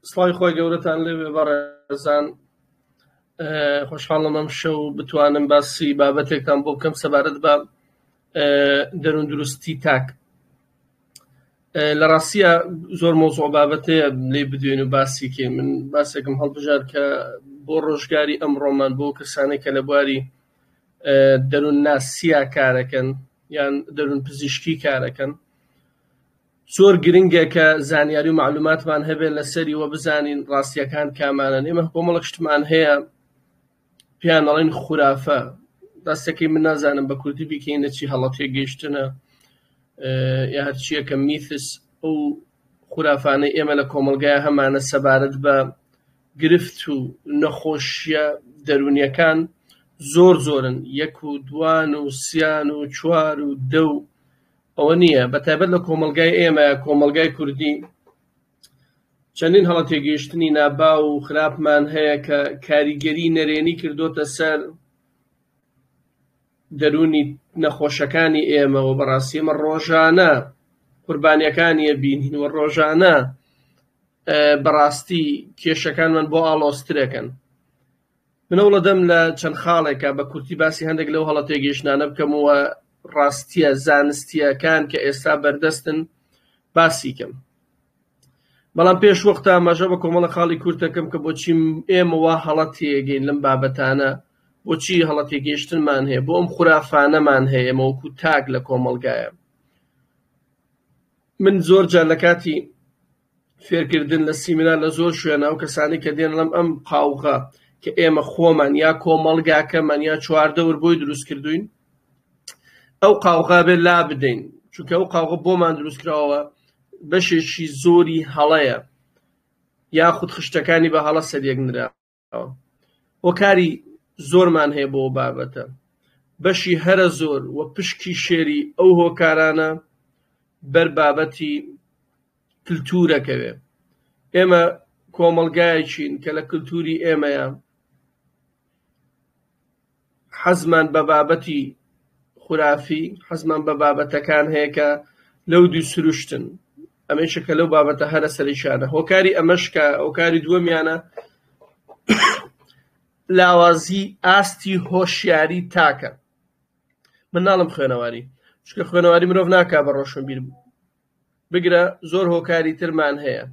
سڵاوی خۆی گەورەتان لێوێ بەڕێزان خۆشحاڵم ئەم شەو بتوانم باسی بابەتێکتان بۆ بکەم سەبارەت بە دەروون دروستی تاک لە ڕاستە زۆر مۆزۆ بابەتەیە لێ بدوێن و باسیکێ من باسێکم هەڵبژار کە بۆ ڕۆژگاری ئەم ڕۆمان بۆ کەسانێک کە لە بواری دەروون ناسییا کارەکەن یان دەروون پزیشکی کارەکەن زۆر گرنگە کە زانیاری و معلوماتمان هەبێت لەسەری وە بزانین ڕاستیەکان کامانەن ئێمە کۆمەڵک شتمان هەیە پێیان ئەڵێن خورافە دەستەکەی من نازانم بە کوردی بیکەینە چی هەڵە تێگەیشتنە یا هەرچیە کە میثس ئەو خورافانەی ئێمە لە کۆمەلگای هەمانە سەبارەت بە گرفت و نەخۆشیە دەرونیەکان زۆر زۆرن یەک و دوان و سیان و چوار و دە و ئەوە نییە بەتایبەت لە کۆمەڵگای ئێمە کۆمەڵگای کوردی چەندین هەڵە تێگەیشتنی ناباو و خراپمان هەیە کە کاریگەری نەرێنی کردوتە سەر دەرونی نەخۆشەکانی ئێمە و بەڕاستی ئمە ڕۆژانە قوربانیەکانیە بینین و ڕۆژانە بەڕاستی کێشەکانمان بۆ ئاڵۆسترەکەن منەوڵە دەم لە چەند خاڵێکا بە کورتی باسی هەندێک لەو هەڵە تێگەیشتنانە بکەم و ڕاستییە زانستییەکان کە ئێستا بەردەستن باسی کەم. بەڵام پێش وەختە ئاماژە بە کۆمەڵە خاڵی کورت دەکەم کە بۆچی ئێمە وا هەڵە تێگەین لەم بابەتانە، بۆچی هەڵە تێگەیشتنمان هەیە، بۆ ئەم خورافانەمان هەیە ئێمە وەکوو تاک لە کۆمەڵگایە. من زۆر جار لە کاتی فێرکردن لە سیمینار لە زۆر شوێنە ئەو کەسانەی کە دێن لەم ئەم قاوغە کە ئێمە خۆمان یا کۆمەڵگاکەمان یا چواردەور بۆی دروست کردوین ئەو قاوغا بێ لا بدەین چونکە ئەو قاوغە بۆمان دروست کراوە بەشێکی زۆری هەڵەیە یاخود خشتەکانی بە هەڵە سەریەکنرا هۆکاری زۆرمان هەیە بۆ بابەتە بەشی هەرە زۆر و پشکی شێری ئەو هۆکارانە بەر بابەتی کللتورەکەوێ ئێمە کۆمەلگایەکین کە لە کللتوری ئێمەیە حەزمان بە بابەتی خورافی، حەزمان بە بابەتەکان هەیە کە لەو دوی سروشتن، ئەمەیشە کە لەو بابەتە هەرە سەرەکیانە، هۆکاری ئەمەش کە هۆکاری دووەمیانە لاوازی ئاستی هۆشیاری تاکە، من ناڵێم خوێنەواری، چونکە خوێنەواری مرۆڤ ناکا بە ڕۆشنبیر، بگرە زۆر هۆکاری ترمان هەیە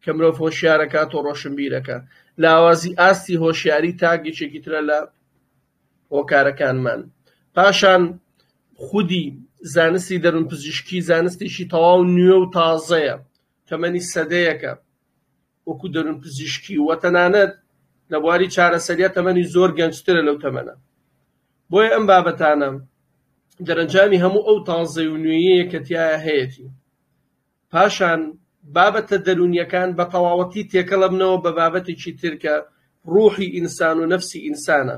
کە مرۆڤ هۆشیار ئەکات و ڕۆشنبیر ئەکا. لاوازی ئاستی هۆشیاری تاک یەکێکی ترە لە هۆکارەکانمان. پاشان خودی زانستی دەروونپزیشکی زانستێکی تەواو نوێ و تازەیە، تەمەنی سەدەیەکە. وەکو دەروون پزیشکی و تەنانەت لە بواری چارەسەریا تەمەنی زۆر گەنجترە لەو تەمەنە بۆیە ئەم بابەتانە دەرەنجامی هەموو ئەو تازەی و نوێیەیە کە تیایا هەیەتی پاشان بابەتە دەروونیەکان بە تەواوەتی تێکەڵەبنەوە بە بابەتێکی ترکە ڕوحی ئینسان و نەفسی ئینسانە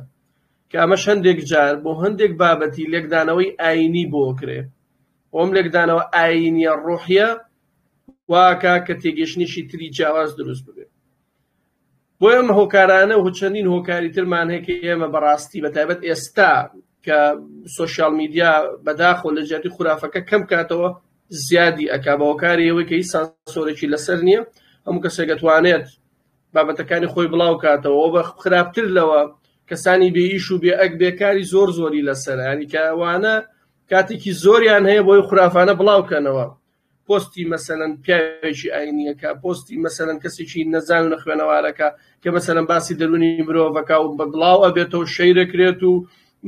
کە ئەمە هەندێک جار بۆ هەندێک بابەتی لێکدانەوەی ئاینی بۆکرێ ئەم لێکدانەوە ئاینیە ڕۆحیە واکات کە تێگەشتنیشی تری جیاواز دروست ببێت بۆ ئەم هۆکارانە و چەندین هۆکاری ترمان هەیە کە ئێمە بەڕاستی بە تایبەت ئێستا کە سوسیال میدیا بەداخۆ لە جیاتی خورافەکە کەم کاتەوە زیادی ئەک بە هۆکاری ئەوەی کە هیچ سانسۆرێکی لەسەر نییە هەموو کەسێک دەتوانێت بابەتەکانی خۆی بڵاو کاتەوە بە خراپتر لەوە کەسانی بێئیش و بێ ئەک بێکاری زۆر زۆری لەسەر هەنی کەوانە کاتێکی زۆریان هەیە بۆی خرافانە بڵاوکەنەوە پۆستی مەسەلەن پیاوێکی ئاینیەکە پۆستی مەسەلەن کەسێکی نەزان و نەخوێنەوارەکە کە مەسەلەن باسی دەرونی مرۆڤەکە و بە بڵاو ئەبێتەوە شەیرەکرێت و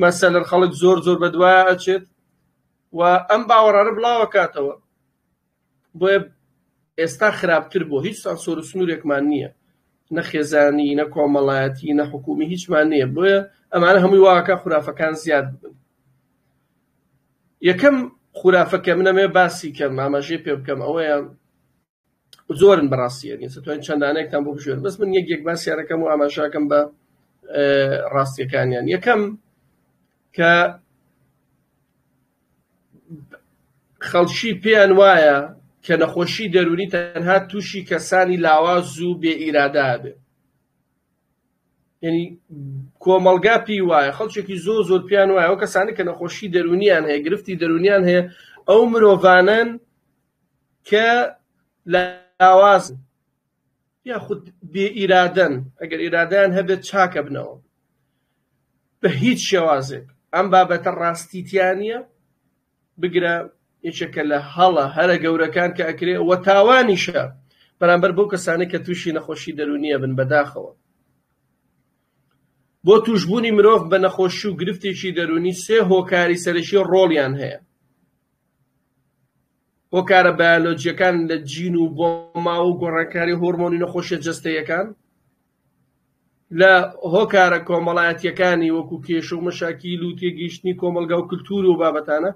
مەسەلەن خەڵک زۆر زۆر بەدوایە ئەچێت و ئەم باوەڕانە بڵاوەکاتەوە بۆیە ئێستا خراپتر بۆ هیچ سانسۆر و سنوورێکمان نییە نە خێزانی نە کۆمەڵایەتی نە حکومی هیچمان نییە بۆیە ئەمانە هەمووی واکە خورافەکان زیاد بن یەکەم خورافە کە من ئەمەوێ باسی کەم ئاماژەی پێ بکەم ئەوەیە زۆرن بەڕاستی یعنی دەتوانین چەندانەیەکتان بۆ بژێن بەس من یەک یەک باسیارەکەم و ئاماژاکەم بە ڕاستیەکانیان یەکەم کە خەڵکی پێیان وایە کە نەخۆشی دەرونی تەنها تووشی کەسانی لاواز و بێ ئیرادابێ یەنی کۆمەڵگا پێی وایە خەڵکێکی زۆ زۆر پیان وایە ئەو کەسانی کە نەخۆشی دەرونیان هەیە گرفتی دەرونیان هەیە ئەو مرۆڤانن کە لە لاواز یاخود بێ ئیرادەن ئەگەر ئیرادیان هەبێت چاکە بنەوە بە هیچ شێوازێک ئەم بابەتە ڕاستیتیانە بگرە یەکێکە لە هەڵە هەرە گەورەکان کە ئەکرێ وە تاوانیشە بەرامبەر بەو کەسانەی کە تووشی نەخۆشی دەرونیە بن بەداخەوە بۆ توشببوونی مرۆڤ بە نەخۆشی و گرفتێکی دەرونی سێ هۆکاری سەرەکی ڕۆڵیان هەیە هۆکارە بایۆلۆجیەکان لە جین و بۆ ماوە و گۆڕانکاری هۆرمۆنی نەخۆشیە جەستەیەکان لە هۆکارە کۆمەڵایەتییەکانی وەکو کێشە و مەشاکیل و تێگەیشتنی کۆمەڵگا و کلتور و بابەتانە،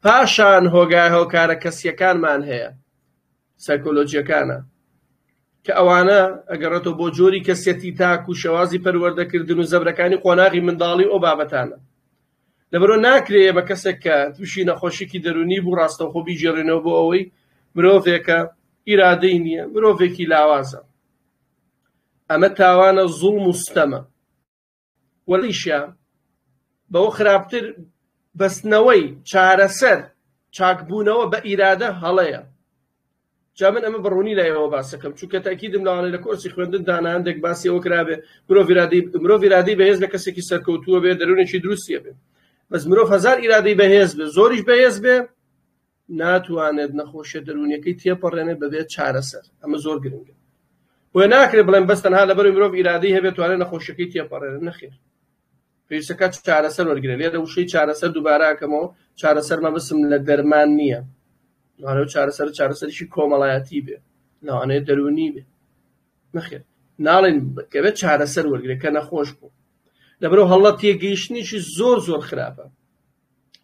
پاشان هۆگا هۆکارە کەسییەکانمان هەیە، سایکۆلۆجییەکانە، کە ئەوانە ئەگەڕێتەوە بۆ جۆری کەسیەتی تاک و شێوازی پەروەردەکردن و زەبرەکانی قۆناغی منداڵی و ئەو بابەتانە. لەبەرئەوە ناکرێ ئێمە کەسێک کە تووشی نەخۆشیکی دەروونی بوو ڕاستەوخۆ بیگێڕینەوە بۆ ئەوەی مرۆڤێکە، ئیرادەی نییە، مرۆڤێکی لاوازە. ئەمە تاوانە زوڵم و ستەمە و لەوەیشە بەوە خراپتر بەستنەوەی چارەسەر چاکبوونەوە بە ئیرادە هەڵەیە جا من ئەمە بەڕوونی لای ئەوە باسەکەم چونکە تاکیدم لەوانەیە لە کۆرسی خوێندن دانا هەندێک باسی ئەوە کرابێ مرۆڤ ئیرادەی مرۆڤ ئیرادەی بەهێز لە کەسێکی سەرکەوتووە بێ دەروونێکی دروستیە بێ بەس مرۆڤ هەزار ئیرادەی بەهێز بێ زۆریش بەهێز بێ ناتوانێت نەخۆشیە دەروونیەکەی تێپەڕێنێت بەبێ چارەسەر ئەمە زۆر گرنگە بۆیە ناکرێت بڵێن بەس تەنها لەبەر مرۆڤ ئیرادەی هەبێت توانێت نەخۆشیەکەی تێپەڕێنێت نەخێر پێویستەکە چارەسەر وەرگرێت لێرە وشەی چارەسەر دووباراکەمەوە چارەسەر مەبسم لە دەرمان نییە دوانە چارەسەر چارەسەرشی کۆمەڵایەتی بێ لەوانەیە دەروونی بێ نەخێر ناڵێن بکەوێت چارەسەر وەرگێکە نەخۆش بوو لەبەرو هەڵە تێگەیشتنیشی زۆر زۆر خراپە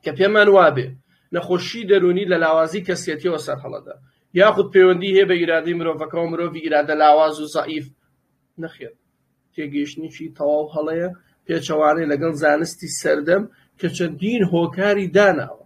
کە پێمان وابێ نەخۆشیی دەروونی لە لاوازیی کەسیەتییەوە سەرهەڵەدا، یاخود پەیوەندیی هەیە بە ئیرادەی مرۆڤەکەوە، مرۆڤی ئیرادە لاواز و زەعیف، نەخێر، تێگەیشتنێکی تەواو هەڵەیە، پێچەوانەیە لەگەڵ زانستی سەردەم کە چەندین هۆکاری داناوە.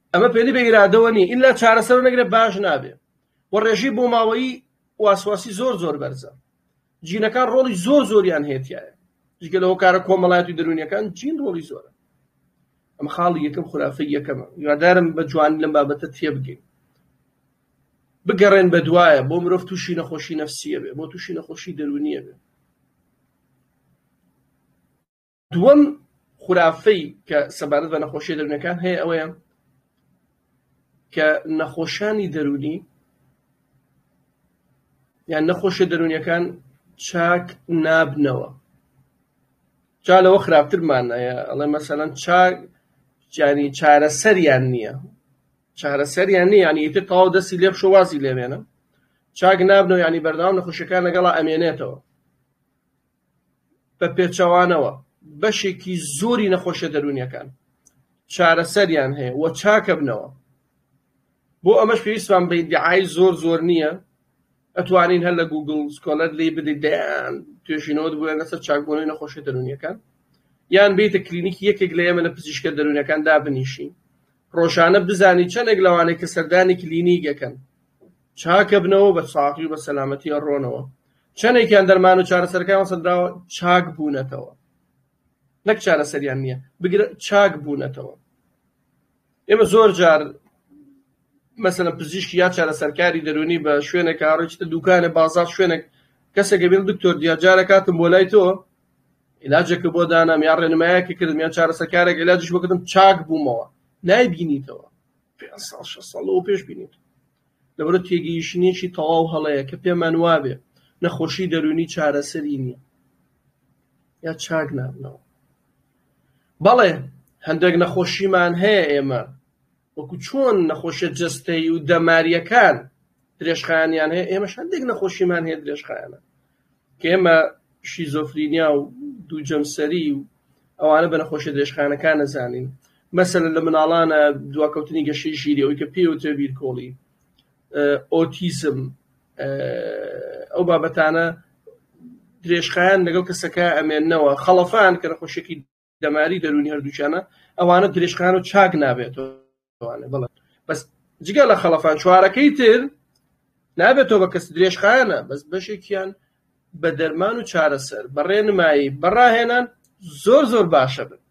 ئەمە پێلی بە ئیرادەوە نیە ئیلا چارەسەرو نەگرێت باش نابێ و ڕێژەی بۆماوەیی واسواسی زۆر زۆر بەرزە جینەکان ڕۆڵی زۆر زۆریان هەیە تایە جگە لە هۆکارە کۆمەڵایەتی دەروونیەکان جین ڕۆڵی زۆرە ئەم خاڵی یەکەم خرافە یەکەمە یادارم بە جوان لەم بابەتە تێبگەین بگەڕێن بە دوایە بۆ مرۆڤ تووشی نەخۆشی نەفسیە بێ بۆ تووشی نەخۆشی دەرونیە بێ دووەم خورافەی کە سەبارەت بە نەخۆشیە دەروونەکان هەیە ئەوەیە کە نەخۆشانی دەرونی یان نەخۆشە دەرونیەکان چاک نابنەوە جا لەوە خراپترمانەیە ئەڵێ مەسەەن چاک جانی چارەسەریان نییە چارەسەریان نیە ینی ئیتر تەواو دەستی لێ بشۆ وازی لێبێنە چاک نابنەوە ینی بەردەوام نەخۆشەکان لەگەڵا ئەمێنێتەوە بەپێچەوانەوە بەشێکی زۆری نەخۆشیە دەروونیەکان چارەسەریان هەیە و چاکەبنەوە بۆ ئەمەش پێویستمان بە دیعای زۆر زۆر نییە ئەتوانین هەر لە گوگل سکۆلەر لی بدەیت دەیان توێژینەوە بووە لەسەر چاکبوونەوەی نەخۆشیە دەروونیەکان یان بیتە کلینیکی یەکێک لە ئێمە لە پزیشکە دەروونەکان دابنیشین ڕۆژانە بزانی چەندێک لەوانەیە کە سەردانی کلینیگەکەن چاکەبنەوەو بە ساغی و بە سەلامەتی ئەڕۆنەوە، چەنێکیان دەرمان و چارەسەرەکانیان سەندراوە چاک بوونەتەوە نەک چارەسەریان نیە بگرە چاک بوونەتەوە ئێمە زۆر جار مەسەلەن پزیشکی یا چارەسەرکاری دەرونی بە شوێنێک هاڕێکتە دوکانە بازار شوێنێک کەسێکە بێت دکتۆر دیاجارە کاتم بۆ لای تۆ علاجێکە بۆ دانام یا ڕێنمایەکی کردم یان چارەسەکارێک علاجش بکردم چاک بوومەوە نایبینیتەوە پێنج ساڵ شەش ساڵ لەوە پێش بینین لەبەرە تێگەیشتنێکی تەواو هەڵەیە کە پێمان وابێ نەخۆشی دەروونی چارەسەری نییە یا چاک نابنەوە بەڵێ هەندێک نەخۆشیمان هەیە ئێمە وەکو چۆن نەخۆشە جستەی و دەماریەکان درێژخانیان هەیە ئێمەش هەندێک نەخۆشیمان هەیە درێژخایانە ئێمە شیزۆفرینیا و دوو جەمسەری و ئەوانە بە نەخۆشیە درێژخایەنەکان نەزانین، مەسەلەن لە مناڵانە دواکەوتنی گەشەی ژیری ئەوەی کە پێی وترێ بیرکۆڵی، ئۆتیزم، ئەو بابەتانە درێژخایەن لەگەڵ کەسەکە ئەمێننەوە، خەڵەفان کە نەخۆشیەکی. دەماری دەرونی هەردووچانە ئەوانە درێژخان و چاک نابێتوانێ بڵێ بەس جگە لە خەڵەفان چوارەکەی تر نابێتەوە بە کەس درێژخانە بەس بەشێکیان بە دەرمان و چارەسەر بەڕێنمایی بەڕاهێنان زۆر زۆر باشە بن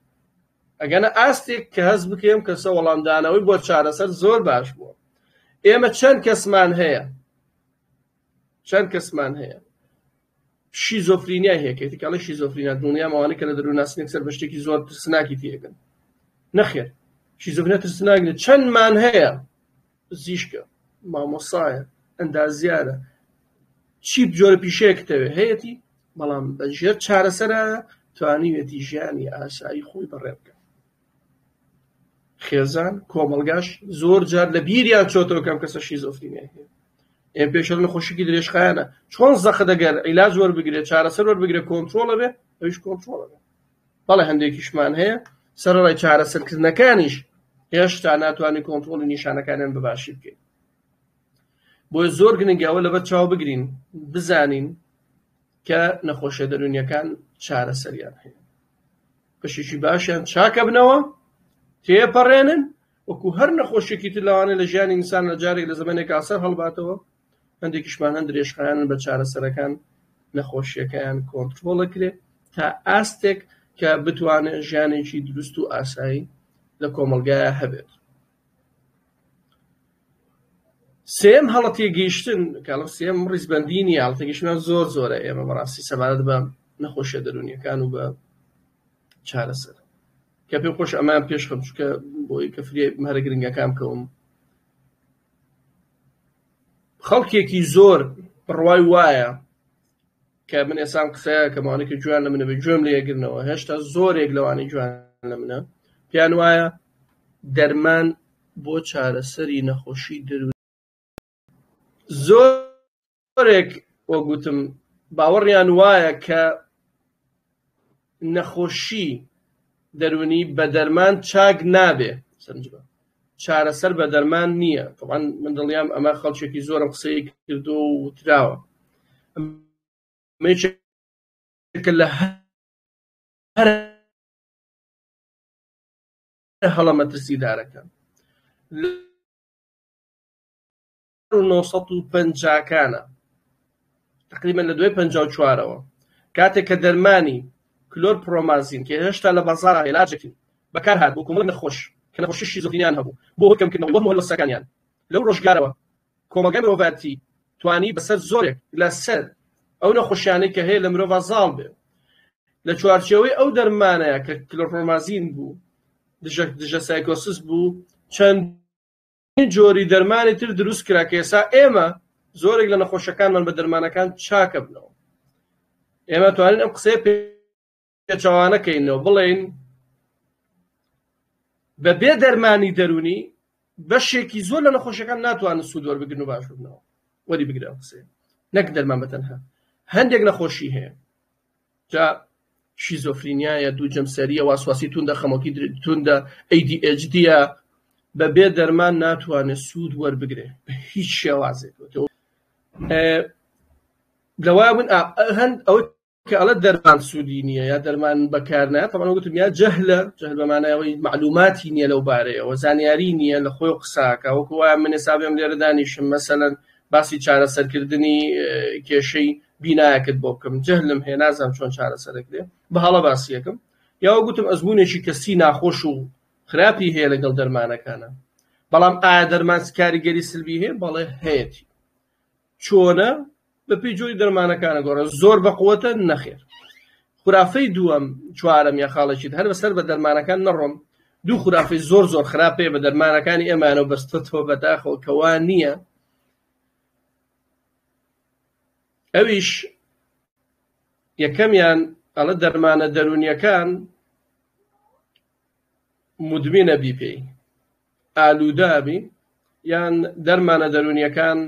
ئەگەنە ئاستێک کە هەز بکەم کەسە وەڵامدانەوەی بۆ چارەسەر زۆر باش بووە ئێمە چەند کەسمان هەیە چەند کەسمان هەیە شیزۆفرینیای هەیەکێتی کاڵی شیزۆفرینا دڵنیام ئەوانە کە لە دەرووناسنێک سەر بە شتێکی زۆر ترسناکی تێگەن نەخێر شیزۆفرینە ترسناک لە چەندمان هەیە زیشکە مامۆسایە ئەندازیارە چی جۆرە پیشەیەکتەوێ هەیەی بەڵام بە ژێر چارەسەرە توانیوێتی ژیانی ئاسایی خۆی بەڕێ بکە خێزان کۆمەڵگاش زۆر جار لە بیریان چۆتەوە کەم کەسە شیزۆفرینیای هەیە ئێ پێشە لە خۆشکی درێژخایەنە چۆن زەخت دەگەر عیلاج وەربگرێت چارەسەر وەربگرێت کۆنتترۆڵە بێ ئەوش کۆنتترۆڵە بێ بەڵێ هەندێکیشمان هەیە سەرڕای چارەسەرکردنەکانیش هێشتا ناتوانانی کۆنتترۆڵی نیشانەکانیان بباشی بکەین بۆی زۆر گرنگەوە لەبەر چاو بگرین بزانین کە نەخۆشیە دەرونیەکان چارەسەریان هەیە بەشێکی باشیان چاکەبنەوە تێپەڕێنن وەکو هەر نەخۆشیێکی تر لەوانە لە ژیانی ئینسان لە جارێک لە زمانێک ئاسەر هەڵباتەوە هەندێکیشمان هەند درێژخایان بە چارەسەرەکان نەخۆشیەکەیان کۆنتترۆڵە کرێ تا ئاستێک کە بتوانێت ژیانێکی دروست و ئاسایی لە کۆمەلگایە هەبێت سێیەم هەڵە تێگەیشتن کاڵە سێم ڕیزبەندی نیە هەڵە تێگەیشتنەوە زۆر زۆرە ئێمە بەڕاستی سەبارەت بە نەخۆشیە دەروونیەکان و بە چارەسەر کە پێم خۆش ئەمان پێش خەم چکە بۆی کە فریای هەرە گرنگەکان کەوم خەڵکێکی زۆر بڕوای وایە کە من ئێسام قسەیە کە ماوانێکی جوان لە منە بێ گوێم لێ گرنەوە هێشتا زۆرێک لەوانی جوان لە منە پێیان وایە دەرمان بۆ چارەسەری نەخۆشی درو زۆرێک وەگوتم باوەڕیان وایە کە نەخۆشی دەرونی بە دەرمان چاک نابێ سەرنجبە چارەسەر بە دەرمان نییە تەوان من دڵیام ئەمە خەڵکێکی زۆرم قسەی کردو وتراوە مێچێکە لە هەر هەڵە مەترسیدارەکە و نۆ سەد و پەنجاکانە تقریبا لە دوای پەنجا و چوارەوە کاتێک کە دەرمانی کلۆر پرۆمازین کە هێشتا لە بازار عێلاجێکی بەکار هات بۆ کۆمەڵ نەخۆش کە نەخۆشی شیزۆفرینیان هەبوو بۆ کەمکردنەوەی وەهم و هەلوەستەکانیان لەو ڕۆژگارەوە کۆمەڵگای مرۆڤایەتی توانی بەسەر زۆرێک لەسەر ئەو نەخۆشیانەی کە هەیە لە مرۆڤ زاڵ بێ لە چوارچێوەی ئەو دەرمانەیە کە کلۆرۆمازین بوو دژە دژە سایکۆسس بوو چەند چەندین جۆری دەرمانی تر دروست کرا کە ئێستا ئێمە زۆرێک لە نەخۆشەکانمان بە دەرمانەکان چاکەبنەوە ئێمە توانین ئەم قسەیە پێچوانە کەینەوە بڵێین بە بێ دەرمانی دەرونی بەشێکی زۆر لە نەخۆشەکان ناتوانن سوودوەر بگرن و باشبنەوە وەری بگرە قسێ نەک دەرمان بەتەنها هەندێک نەخۆشی هەیە جا شیزۆفرینیایە، دوو جەمسەرییە، واسواسی توندە، خەمۆکی توندە، ADHD یە، بەبێ دەرمان ناتوانێت سوود وەربگرێت بە هیچ شێوازێک لەوا من هەند ئەو کەڵە دەرمان سوودی نییە یا دەرمان بەکارنا تەمان وتم یا جەهلە جەهل بەمانایەوەی معلوماتی نییە لەو بارەیەوە زانیاری نییە لە خۆی قساکە وەکوە منێ سابێم لێرە دانیشم مەسەەن باسی چارەسەرکردنی کێشەی بینایەکت بۆ بکەم جەهلم هەیە نازانم چۆن چارەسەرەکرێ بە هەڵە باسیەکەم یاوە گوتم ئەزمونێکی کەسی ناخۆش و خراپی هەیە لەگەڵ دەرمانەکانە بەڵام ئایا دەرمان کاریگەری سلبی هەیە بەڵێ هەیەتی چۆنە بە پێی جۆری دەرمانەکانە گۆڕە زۆر بەقوتە نەخێر خرافەی دووەم چوارەم یا خاڵێکیت هەر بەسەر بە دەرمانەکان نەڕۆم دوو خورافەی زۆر زۆر خراپ پێ بە دەرمانەکانی ئێمانەوە بەستێتەوە بەداخەوە کە وا نییە ئەویش یەکەمیان ئەڵە دەرمانە دەرونیەکان مدمینە بی پێی ئالوودابی یان دەرمانە دەرونیەکان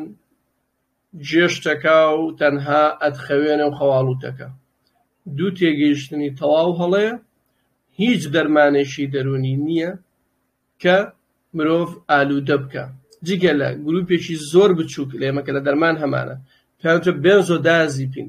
جێشتەکە و تەنها ئەتخەوێنێ و خەواڵووتەکە. دوو تێگەیشتنی تەواو هەڵەیە، هیچ دەرمانێکی دەروونی نییە کە مرۆڤ ئالوودە بکا، جگە لە گرووپێکی زۆر بچووک لێمە کە لە دەرمان هەمانە، پێیان وترێ بێنزۆدایازیپین،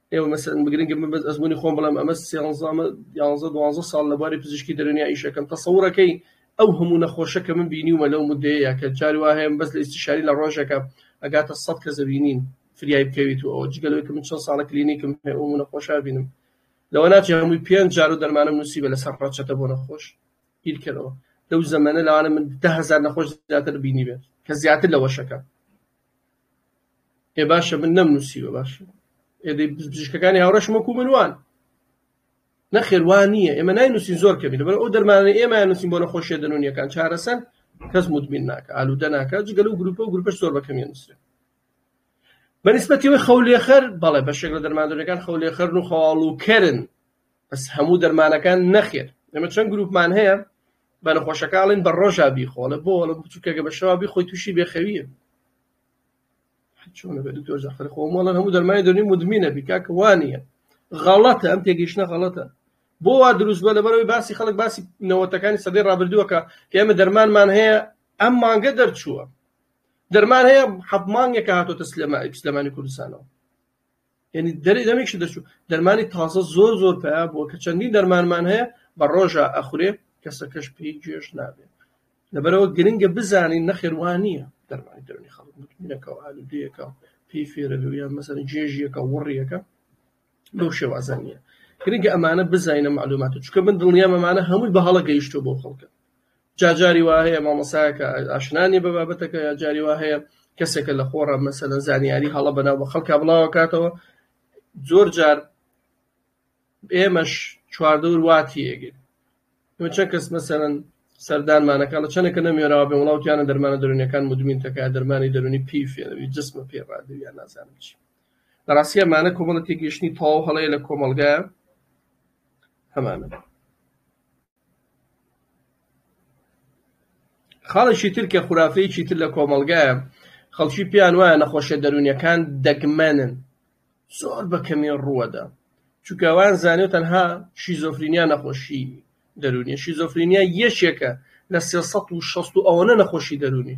ئێوە مەسەن بگرن گە بەس ئەزمونی خۆم بڵم ئەمە سێزانە یانزە دوانزە ساڵ لە بواری پزیشکی دەرونیا ئیشەکەم تەسەورەکەی ئەو هەموو نەخۆشە کە من بینیومە لەو مدەیە کە جاری وا هەیە بەس لە ئیسیشاری لە ڕۆژەکە ئەگاتە سەد کە زەبینین فریای بکەویت و ئەو جگەلەوەی کە من چەند ساڵە کلینیکم هەیە ئەو نەخۆشە بینم لەوە ناچێ هەمووی پێنج جار و دەرمانم نووسیبە لەسەر ڕەچەتە بۆ نەخۆش بیرکەرەوە لەو زەمەنە لەوانە من ده هزار نەخۆش زیاتر بینی بێت کە زیاتر لە وەشەکە ئێ باشە من نەم نوسیوە باشە ئێ دەی پزیشکەکانی هاوڕێشم وەکو من وان نەخێر وان نییە ئێمە ناینوسین زۆر کەمی لەبەر ئەو دەرمانە ئێمە نووسین بۆ نەخۆشیە دەنونیەکان چارەسەر کەس مدمین ناکە ئالوودە ناکە جگەل و گروپە و گروپەش زۆر بەکەمیە نووسێ بەنسبەتیەوەی خەولێخەر بەڵێ بەشێک لە دەرماندونەکان خەولێخەر و خەواڵ و کرن بەس هەموو دەرمانەکان نەخێر ئەمە چەند گروپمان هەیە بە نەخۆشەکانڵین بە ڕۆژا بیخۆڵە بۆڵە بچووکەگە بە شەوا بی خۆی تووشی بێخەویە چۆنە بێ دکتۆر جەعفەر خۆ مەڵەن هەموو دەرمانی دەرونی مدمینە بی کاکە وا نییە غەڵەتە ئەم تێگەیشتنە غەڵەتە بۆ وا دروست بە لەبەرەوەی باسی خەڵک باسی نەوەتەکانی سەدەی ڕابردووەکە کە ئێمە دەرمانمان هەیە ئەم مانگە دەرچووە دەرمان هەیە حەب مانگێکە هاتۆتە سلێمانی سلێمانی کوردستانەوە یعنی دەری دەمێکشی دەچوو دەرمانی تازە زۆر زۆر پیا بووە کە چەندین دەرمانمان هەیە بە ڕۆژە ئەخورێ کەسەکەش پێی گوێش نابێت لەبەرەوە گرنگە بزانین نەخێوان نییە دەرمانی دەرونی خەڵک متمینەکە و ئالودەیەەکە پێی فێرە لە یان مەسەر جێژیەکە وڕیەکە لەو شێوازە نییە گرنگە ئەمانە بزانینە معلوماتە چکە من دڵنیام ئەمانە هەمووی بە هەڵە گەیشتو بۆ خەڵکە جا جاری وا هەیە مامۆسایەکە ئاشنا نیە بە بابەتەکە یا جاری وا هەیە کەسێکە لە خۆڕا مەسەلەن زانیاری هەڵە بەناو بە خەڵکا بڵاوە کاتەوە زۆر جار ئێمەش چواردەور واتی ئێگەین ئێمە چەند کەس مەسەرەن سەردانمانەکە لە چەندێکە نەمێراوە بێ وڵاوتیانە دەرمانە دەرونیەکان مدمین تەکە دەرمانی دەرونی پی فێنەوی جسمە پێ ڕادویان نازانم چی لە ڕاستیە مانە کۆمەڵە تێگەشتنی تەواو هەڵەیە لە کۆمەلگایە هەمانە خاڵێکی تر کە خورافەیەکی تر لە کۆمەڵگایە خەڵکی پێیان وایە نەخۆشیە دەروونیەکان دەگمەنن زۆر بە کەمی ڕووەدا چونکە وایان زانیوە تەنها شیزۆفرینیا نەخۆشی دەروونیە شیزۆفرینیا یەکێکە لە سێ سەد و شەست و ئەوەنە نەخۆشی دەروونی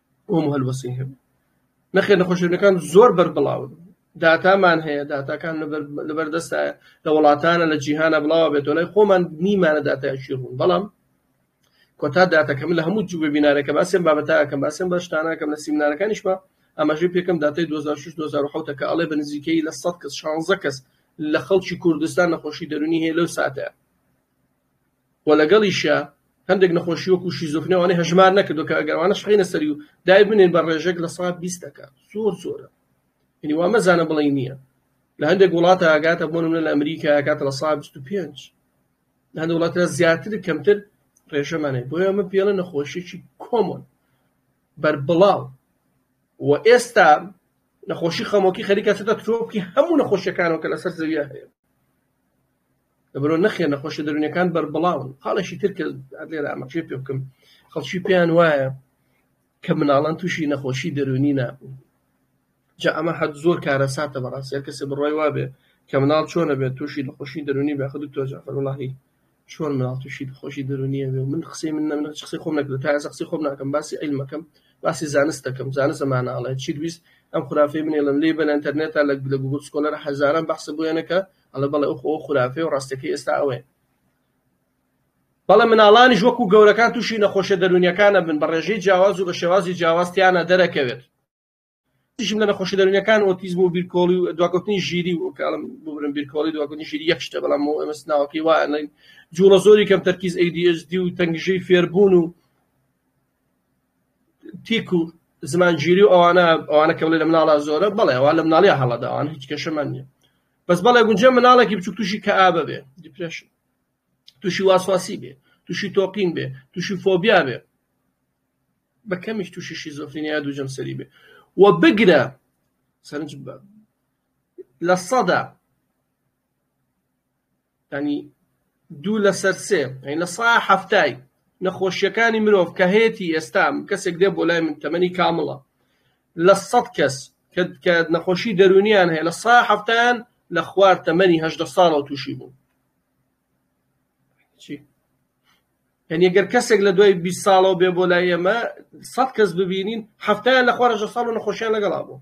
ئوم هەلوەسی هەبوو نەخێر نەخۆشێنەکان زۆر بەربڵاون داتامان هەیە داتاکان لەبەردەستایە لە وڵاتانە لە جیهانە بڵاوە بێتەوە لای خۆمان نیمانە داتایشی ڕوون بەڵام کۆتا داتەکەم لە هەموو جووە بینارەکە باسێن بابەتاکەم باسێن بەشتانەکەم لە سیمنارەکانیشمە ئەمەژی پێکم داتای 2006 2010 کە ئەڵێ بە نزیکەی لە 100 کەس 16 کەس لە خەڵکی کوردستان نەخۆشی دەرونی هەیە لەو ساتە وە لەگەڵیشیا هەندێک نەخۆشی وەکو شیزۆفرنیا وانەی هەژمار نەکردوە کە ئەگەر ئەوانەش بخەینە سەری و دای بنێن بە ڕێژەک لە سەد بیست تەکە زۆر زۆرە یعنی وا مەزانە بڵێی نییە لە هەندێک وڵاتە ئاگاتە بۆ نمونە لە ئەمریکا ئاگاتە لە سەد بیست و پێنج لە هەندێک وڵاتە زیاتر کەمتر ڕێژەمانێ بۆیە ئەمە پێڵە نەخۆشیی کۆمۆن بەربڵاو و ئێستا نەخۆشی خەمۆکی خەریکە چێتە ترۆپکی هەموو نەخۆشیەکانەوە کە لەسەر زەویە هەیە لەبەرو نەخێر نەخۆشیە دەرونیەکان بەربڵاون خاڵێکی تر کە لێرە ئامەچێ پێ بکەم خەڵکی پێیان وایە کە مناڵان تووشی نەخۆشی دەرونی نابوو جا ئەمە حەد زۆر کارە ساتە بەڕاست یار کەسێ بڕای وابێ کە مناڵ چۆنە بێت تووشی نەخۆشی دەرونی بە خود دکتۆر جعفر وڵاهی چۆن مناڵ تووشی نەخۆشی دەرونیە بێ من قسەی من نەمنە قسەی خۆم نەکرد تا قسەی خۆم ناکەم باسی علمەکەم باسی زانست دەکەم زانست ئەمانە ئەڵێ چی دویست ئەم خرافەی منێڵن لێ بەن ئەتەرنێتا لە گوگل سکۆلەر هەزاران بەحسە بۆیانەکە ئەڵێ بەڵێ ئۆخ ئەوە خورافەیە و ڕاستەکەی ئێستا ئەوەیە. بەڵێ مناڵانیش وەکو گەورەکان تووشی نەخۆشیە دەرونیەکان ئەبن بە ڕێژەی جیاواز و بە شێوازی جیاواز تیانا دەرەکەوێت. تیشم لە نەخۆشی دەرونیەکان ئۆتیزم و بیرکۆڵی و دواکەوتنی ژیری و کاڵم ببرم بیرکۆڵی دواکەوتنی ژیری یەک شتە بەڵام بۆ ئێمە سناوەکەی وایە لەین جوڵە زۆری کەم تەرکیز ADHD و تەنگژەی فێربوون و تیک و زمانگیری و ئەوانە ئەوانە کە بڵێ لە مناڵا زۆرە بەڵێ ئەوان لە مناڵیا هەڵەداوان هیچ کێشەمان نییە بەس بەڵێ گونجێ مناڵێکی بچوک تووشی کەئابە بێ دیپرشن تووشی واسواسی بێ تووشی تۆقین بێ تووشی فۆبیا بێ بە کەمیش تووشی شیزۆفینیا دوو جەمسەری بێ و بگرە سەرنج لە سەدا یانی دوو لەسەر سێ یانی لە سەدا حەفتای نەخۆشیەکانی مرۆڤ کە هەیەتی ئێستا کەسێک دێ بۆ لای من تەمەنی کامڵە لە سەد کەس کە نەخۆشی دەرونیان هەیە لە سەدا حەفتان لە خوار تەمەنی هەشدە ساڵەوە تووشی بوون یعنی گەر کەسێک لە دوای 20 ساڵەوە بێ بۆ لای ئێمە سەد کەس ببینین هەفتیان لە خوارەژە ساڵ و نەخۆشیان لەگەڵا بوو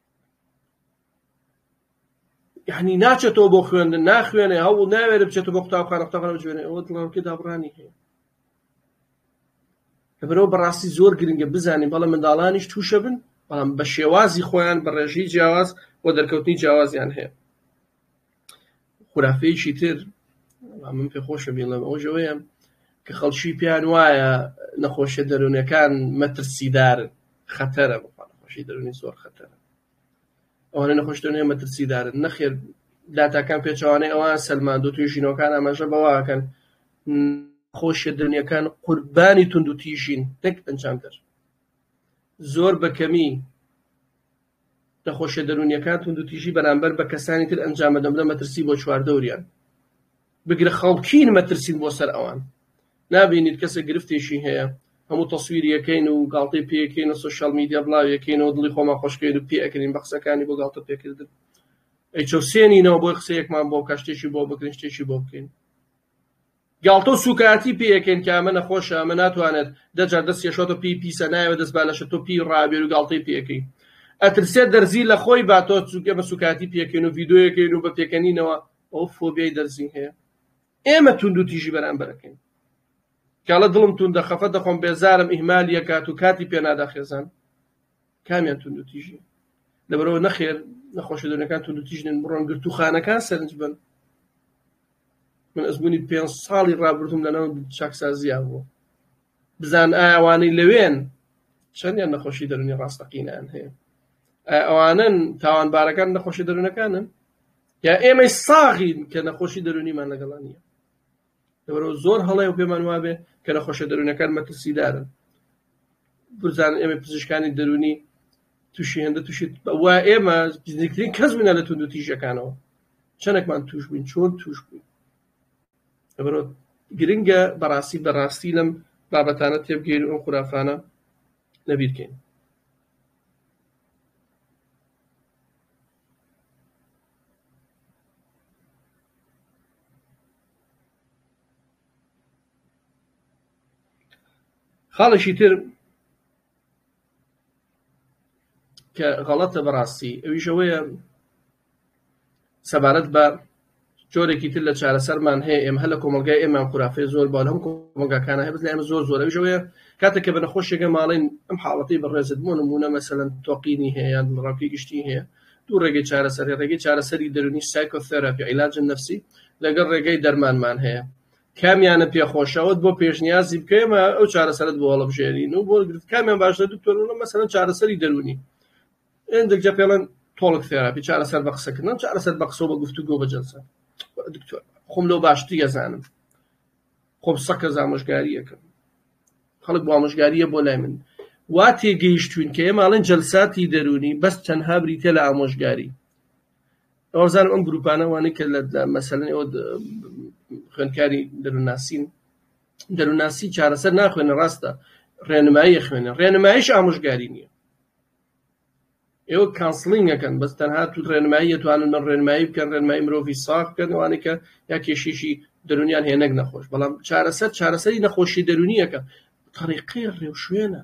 یعنی ناچێتەوە بۆ خوێندن ناخوێنێ هەوڵ ناوێرە بچێتە بۆ قوتابخانە قوتابخانە بجوێنێ ئەوە دڵەوەکی دابڕانی هەیە لەبەرەوە بەڕاستی زۆر گرنگە بزانین بەڵە منداڵانیش تووشە بن بەڵام بە شێوازی خۆیان بە ڕێژەی جیاواز و دەرکەوتنی جیاوازیان هەیە خورافەیەکی تر من پێ خۆشە بیڵێم ئەوش ئەوەیە کە خەڵکی پێیان وایە نەخۆشیە دەروونەکان مەترسیدار خەتەرە بخوا نەخۆشی دەروونی زۆر خەتەرە ئەوانە نەخۆش دەروونی مەترسیدارن نەخێر داتاکان پێچوانەی ئەوان سەلماندو توی ژینەکان ئاماژە بەواکەن خۆشیە دەنیەکان قوربانی تونند و تیژین نەک ئەنجامدەر زۆر بەکەمی نەخۆشیە دەرونیەکان توندوتیژی بەرامبەر بە کەسانی تر ئەنجامدەبنە مەترسی بۆ چواردەوریان بگرە خەڵکین مەترسین بۆ سەر ئەوان نابینیت کەسە گرفتێکی هەیە هەموو تەسویریەکەین و گاڵتەی پێکەین و سوشیال میدیا بڵاویەکەین و دڵی خۆمان خۆشکەین و پێکرین بە قسەکانی بۆ گاڵتە پێکردن ئەی چەوسێنینەوە بۆی قسەیەکمان بۆ کە شتێکی بۆ بکرین شتێکی بۆ بکەین گاڵتە و سوکایەتی پێ ئەکەن کە ئەمە نەخۆشە ئەمە ناتوانێت دە جار دەستی ئەشۆ تۆ پێی پیسە نایەوێت دەست با لەشە تۆ پێی ڕابێرو گاڵتەی پێ ئەکەی ئەترسێت دەرزی لە خۆی با تۆ چونکە ئێمە سوکایەتی پێ ئەکەین و ڤیدیۆی ئەکەین و بە پێکەنینەوە ئەو فۆبیای دەرزی هەیە ئێمە توندو تیژی بەرامبەر ئەکەین کاڵە دڵم توندە خەفەت دەخۆم بێزارم ئیهمالی ئەکات و کاتی پێ نادا خێزان کامیان توندو تیژی لەبەرەوە نەخێر نەخۆشە دەونەکان توندو تیژنن بڕۆن گرتووخانەکان سەرنج بن من ئەزموونی پێنج ساڵی ڕابردووم لەناو چاکسازییا بووە، بزانن ئایا ئەوانەی لەوێن چەندیان نەخۆشی دەروونی ڕاستەقینەیان هەیە؟ ئایا ئەوانەن تاوانبارەکان نەخۆشی دەروونەکانن؟ یا ئێمەی ساغین کە نەخۆشی دەروونیمان لەگەڵا نییە؟ لەبەرەوە زۆر هەڵەیە و پێمان وابێ کە نەخۆشە دەروونەکان مەترسیدارن، بزانن ئێمەی پزیشکانی دەروونی توشی هێندە توشی وا ئێمە نزیکترین کەس بووینە لە توندو تیژەکانەوە چەندێکمان توش بووین چۆن توش بووین لەبەرۆ گرنگە بەڕاستی بەڕاستی لەم بابەتانە تێبگەین ئەو خورافانە لەبیرکەین خاڵێکی تر کە غەڵەتە بەڕاستی ئەویش ئەوەیە سەبارەت بە جۆرێکی تر لە چارەسەرمان هەیە ئێمە هەر لە کۆمەلگای ئێمان خورافێ زۆر با هەم کۆمەگاکانە هەبز لە ئێمە زۆر زۆر ئەویش ئەوەیە کاتێک کە بە نەخۆشێکە ماڵین ئەم حاڵەتی بەڕێزت بۆ نمونە مەسەلەن تۆقینی هەیە یان ڕاکی گشتی هەیە دوو ڕێگەی چارەسەری ڕێگەی چارەسەری دەرونی سایکۆثێراپی عیلاجن نفسی لەگەڵ ڕێگەی دەرمانمان هەیە کامیانت پێ خۆشە ئەوت بۆ پێشنیازی بکەێمە ئەو چارەسەرت بۆ هەڵبژێنین و بۆ گرت کامیان باشە دکتۆر وڵە مەسەرەن چارەسەری دەرونی ئەندێکجا پێڵەن تۆڵک فێراپی چارەسەر بە قسەکردن چارەسەر بە قسە بە گفتو گۆ بە جەلسە دکتۆر خۆم لەو باشتری ئەزانم خۆم سەکە زامۆژگاریەکەم خەڵک بۆ ئامۆژگاریە بۆ لای من وا تێگەیشتوین کە ئێماڵێن جەلساتی دەرونی بەس تەنها بریتە لە ئامۆژگاری ئەوزانم ئەم گروپانە وانەی کە لە مەسەلەن ئەوە خوێندکاری دەروناسین دەروناسی چارەسەر ناخوێنە ڕاستە ڕێنمایی خوێنە ڕێنمایش ئامۆژگاری نییە ئێوە کانسلینگەکەن بەس تەنها تو ڕێنمایی توانن من ڕێنمایی بکەن ڕێنمایی مرۆڤی ساخ بکەنوانە کە یا کێشیشی دەرونیان هێنەک نەخۆش بەڵام چارەسەر چارەسەری نەخۆشی دەرونیەکە طریقی ڕێوشوێنە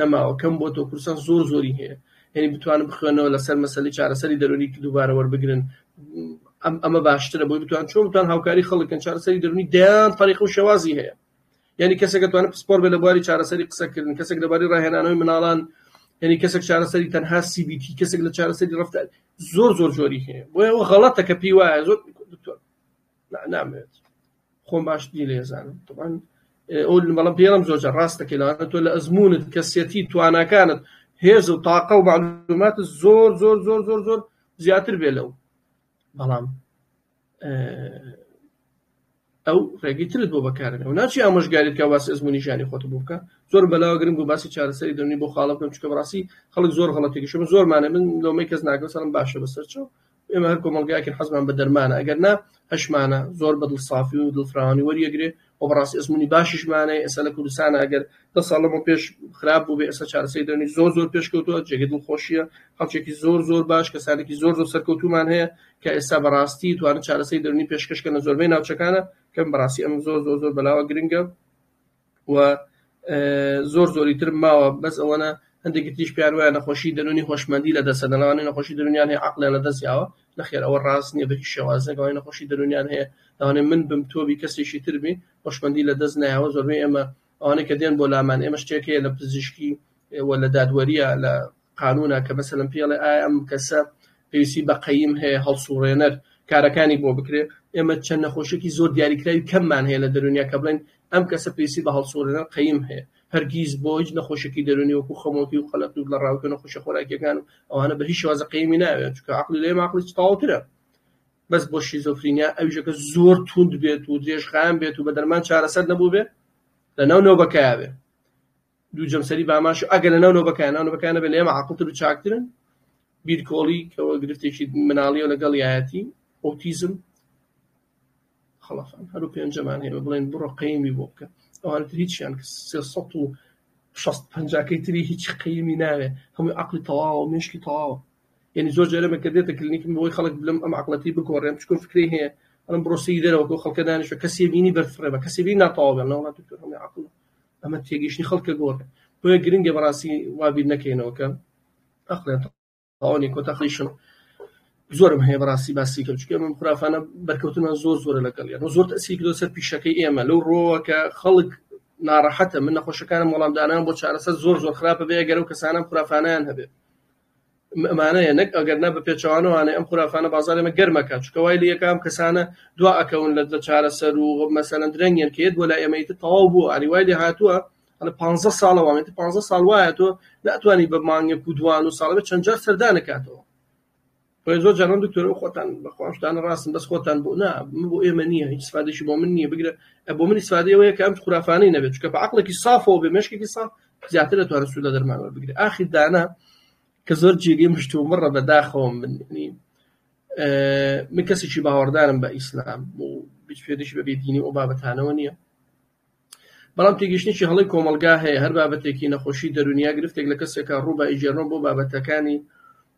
نەماوە کەم بۆتەوە کوردستان زۆر زۆری هەیە یعنی بتوانن بخوێنەوە لەسەر مەسەلی چارەسەری دەرونی دووبارە وەربگرن ئەم ئەمە باشترە بۆی بتوان چۆن بتوان هاوکاری خەڵکن چارەسەری دەرونی دەیان طریق و شێوازی هەیە یعنی کەسێک توانە پسپۆر بێ لە بواری چارەسەری قسەکردن کەسێک لەباری ڕاهێنانەوەی مناڵان یعنی کەسێک چارەسەری تەنها CBT کەسێک لە چارەسەری ڕفتار زۆر زۆر جۆری هەیە بۆیەوە غەڵەتە کە پێی وایە زۆر دکتۆر نامەوێت خۆم باشتری لێزانم طبعاان ئەو بەڵام پێڵم زۆرجە ڕاستەکە لەوانە تۆ لە ئەزمونت کەسیەتی تواناکانت هێز و تاقە و معلومات زۆر زۆر زۆر زۆر زۆر زیاتر بێ لەو بەڵام ئەو ڕێگەی ترت بۆ بەکارن ئەو ناچی ئامۆژگاریت کە باسی ئەزمموی ژانی خۆت بوو بکە زۆر بەلاوە گرنگ و باسی چارەسەری دەنی بۆ خاڵە بکەم چکە بڕاستی خەڵک زۆر غڵەتێکیشم زۆرمانە من لۆمەی کەس ناگەسەڵم باشە بەسەرچەوە ئێمە هەر کۆمەڵگایەکین حەزمان بە دەرمانە ئەگەر نا هەشمانە زۆر بە دڵ سافی و دڵفراوانی وەریەگرێ و بەڕاستی ئەزمونی باشیشمانەیە ئێستا لە کوردستانە ئەگەر دە ساڵ لەمە پێش خراپ بوو بێ ئێستا چارەسەی دەنی زۆر زۆر پێشکەوتووە جێگە دڵخۆشیە خەڵکێکی زۆر زۆر باش کەسانێکی زۆر زۆر سەرکەوتومان هەیە کە ئێستا بەڕاستی توانن چارەسەی دەرنی پێشکەشکە لە زۆربەی ناوچەکانە کەم بەڕاستی ئەم زۆر زۆر زۆر بەلاوە گرنگە و زۆر زۆری ترم ماوە بەس ئەوەنە هەندێکی تریش پێیان وایە نەخۆشی دەروونی هۆشمەندی لە دەستە دەناوانەی نەخۆشی دەروونیان هەیە عەقڵیان لە دەست یاوە نەخێر ئەوە ڕاست نییە بە هیچ شێوازێک ئەوانەی نەخۆشی دەروونیان هەیە لەوانەیە من بم تۆ بی کەسێکی تر بی هۆشمەندی لە دەست نایەوە زۆربەی ئێمە ئەوانەی کە دێن بۆ لامان ئێمە شتێک هەیە لە پزیشکی و لە دادوەریە لە قانونە کە مەسەلەن پێڵێ ئایا ئەم کەسە پێویستی بە قەیم هەیە هەڵسوڕێنەر کارەکانی بۆ بکرێ ئێمە چەند نەخۆشێکی زۆر دیاریکراوی کەممان هەیە لە دەرونیا کە بڵێن ئەم کەسە پێویستی بە هەڵسوڕێنەر قەیم هەیە هەرگیز بۆ هیچ نەخۆشێکی دەرونی وەکو خەمۆکی و قەلەق و لە ڕاوکە نەخۆشە خۆراکیەکان و ئەوانە بە هیچ شێوازە قەیمی ناوێت چکە عقلی لێ ماقلی تاوترە بەس بۆ شیزۆفرینیا ئەوژەکە زۆر توند بێت و درێژخان بێت و بە دەرمان چارەسەر نەبوو بێ لە ناو نەوبەکەیا بێ دوو جەمسەری باماش و ئەگەر لەناو نۆبەکان ناو نۆبەکان نەبێت لە ئێمە عاقڵتر و چاکترن بیرکۆڵی کەەوە گرفتێکی مناڵیەوە لەگەڵ یایەتی ئۆتیزم خڵفان هەرو پێنجەمان هەیە بڵێن بڕۆ قەیمی بۆ بکە ئەوان هیچیان سێ سەد و شەست پەنجاکەی تری هیچ قەیمی ناوێ هەمووی عقلی تەواوە مشکی تەواوە یعنی زۆر جارە مەکە دێتە کلینیکم بۆی خەڵک بلم ئەم عقلەتی بگۆڕێن چکۆ فکری هەیە ئەم بڕۆسی دەرەوە خەڵکە دانیشە کەسی بینی بەرفڕێ بە کەسی بینی ناتەواو بێن لەوڵات دکتۆر هەمووی عقلە ئەمە تێگەیشتنی خەڵکە گۆڕێ بۆیە گرنگە بەڕاستی وا بیر نەکەینەوە کە ئەقڵێن تاوانی کۆتا خیشم زۆرم هەیە بەڕاستی باسی کە چکە من خرافانە بەرکەوتنمان زۆر زۆرە لەگەڵ یان زۆر تەسی کرۆ سەر پیشەکەی ئێمە لەو ڕۆوە کە خەڵک ناڕەحەتە من نەخۆشەکانم وەڵامدانان بۆ چارەسەر زۆر زۆر خراپە بێ گەرەو کەسانم خرافانیان هەبێت ئەمانەیە نەک ئەگەر نا بەپێچەوانەوانەی ئەم خورافانە بازاری ئێمە گەرم ئەکات چونکە وای لە یەکە ئەم کەسانە دوا ئەکەون لە لە چارەسەر و مەسەلەن درەنگیان کە یەت بۆ لای ئێمە ئیتر تەواو بوو ئاری وای لێ هاتووە ئەڵێ 15 ساڵە وام ئیتر 15 ساڵ وایە تۆ ناتوانی بە مانگێک و دوان و ساڵ بە چەند جار سەردانەکاتەوە بەڵێ زۆر جوان دکتۆر و خۆتان بەخوا شتانە ڕاستن بەس خۆتان بۆ نا من بۆ ئێمە نییە هیچ سفادێکی بۆ من نییە بگرە بۆ منی سفادی ئەوەیە کە ئەم خورافانەی نەبێت چکە بە عقلێکی سافەوە بێ مشکێکی ساف زیاتر دەتوانێت سوود لە دەرمان وەربگرێ ئاخر دانا کە زۆر جێگەی مشتوم بڕە بەداخەوەم من من کەسێکی باوەڕدارم بە ئیسلام و بچێتشی بە بێدینی ئەو بابەتانەوە نییە بەڵام تێگەشتێکی هەڵی کۆمەلگا هەیە هەر بابەتێکی نەخۆشی دەرونیا گرفتێک لە کەسێکە ڕوو بە ئیجێرۆن بۆ بابەتەکانی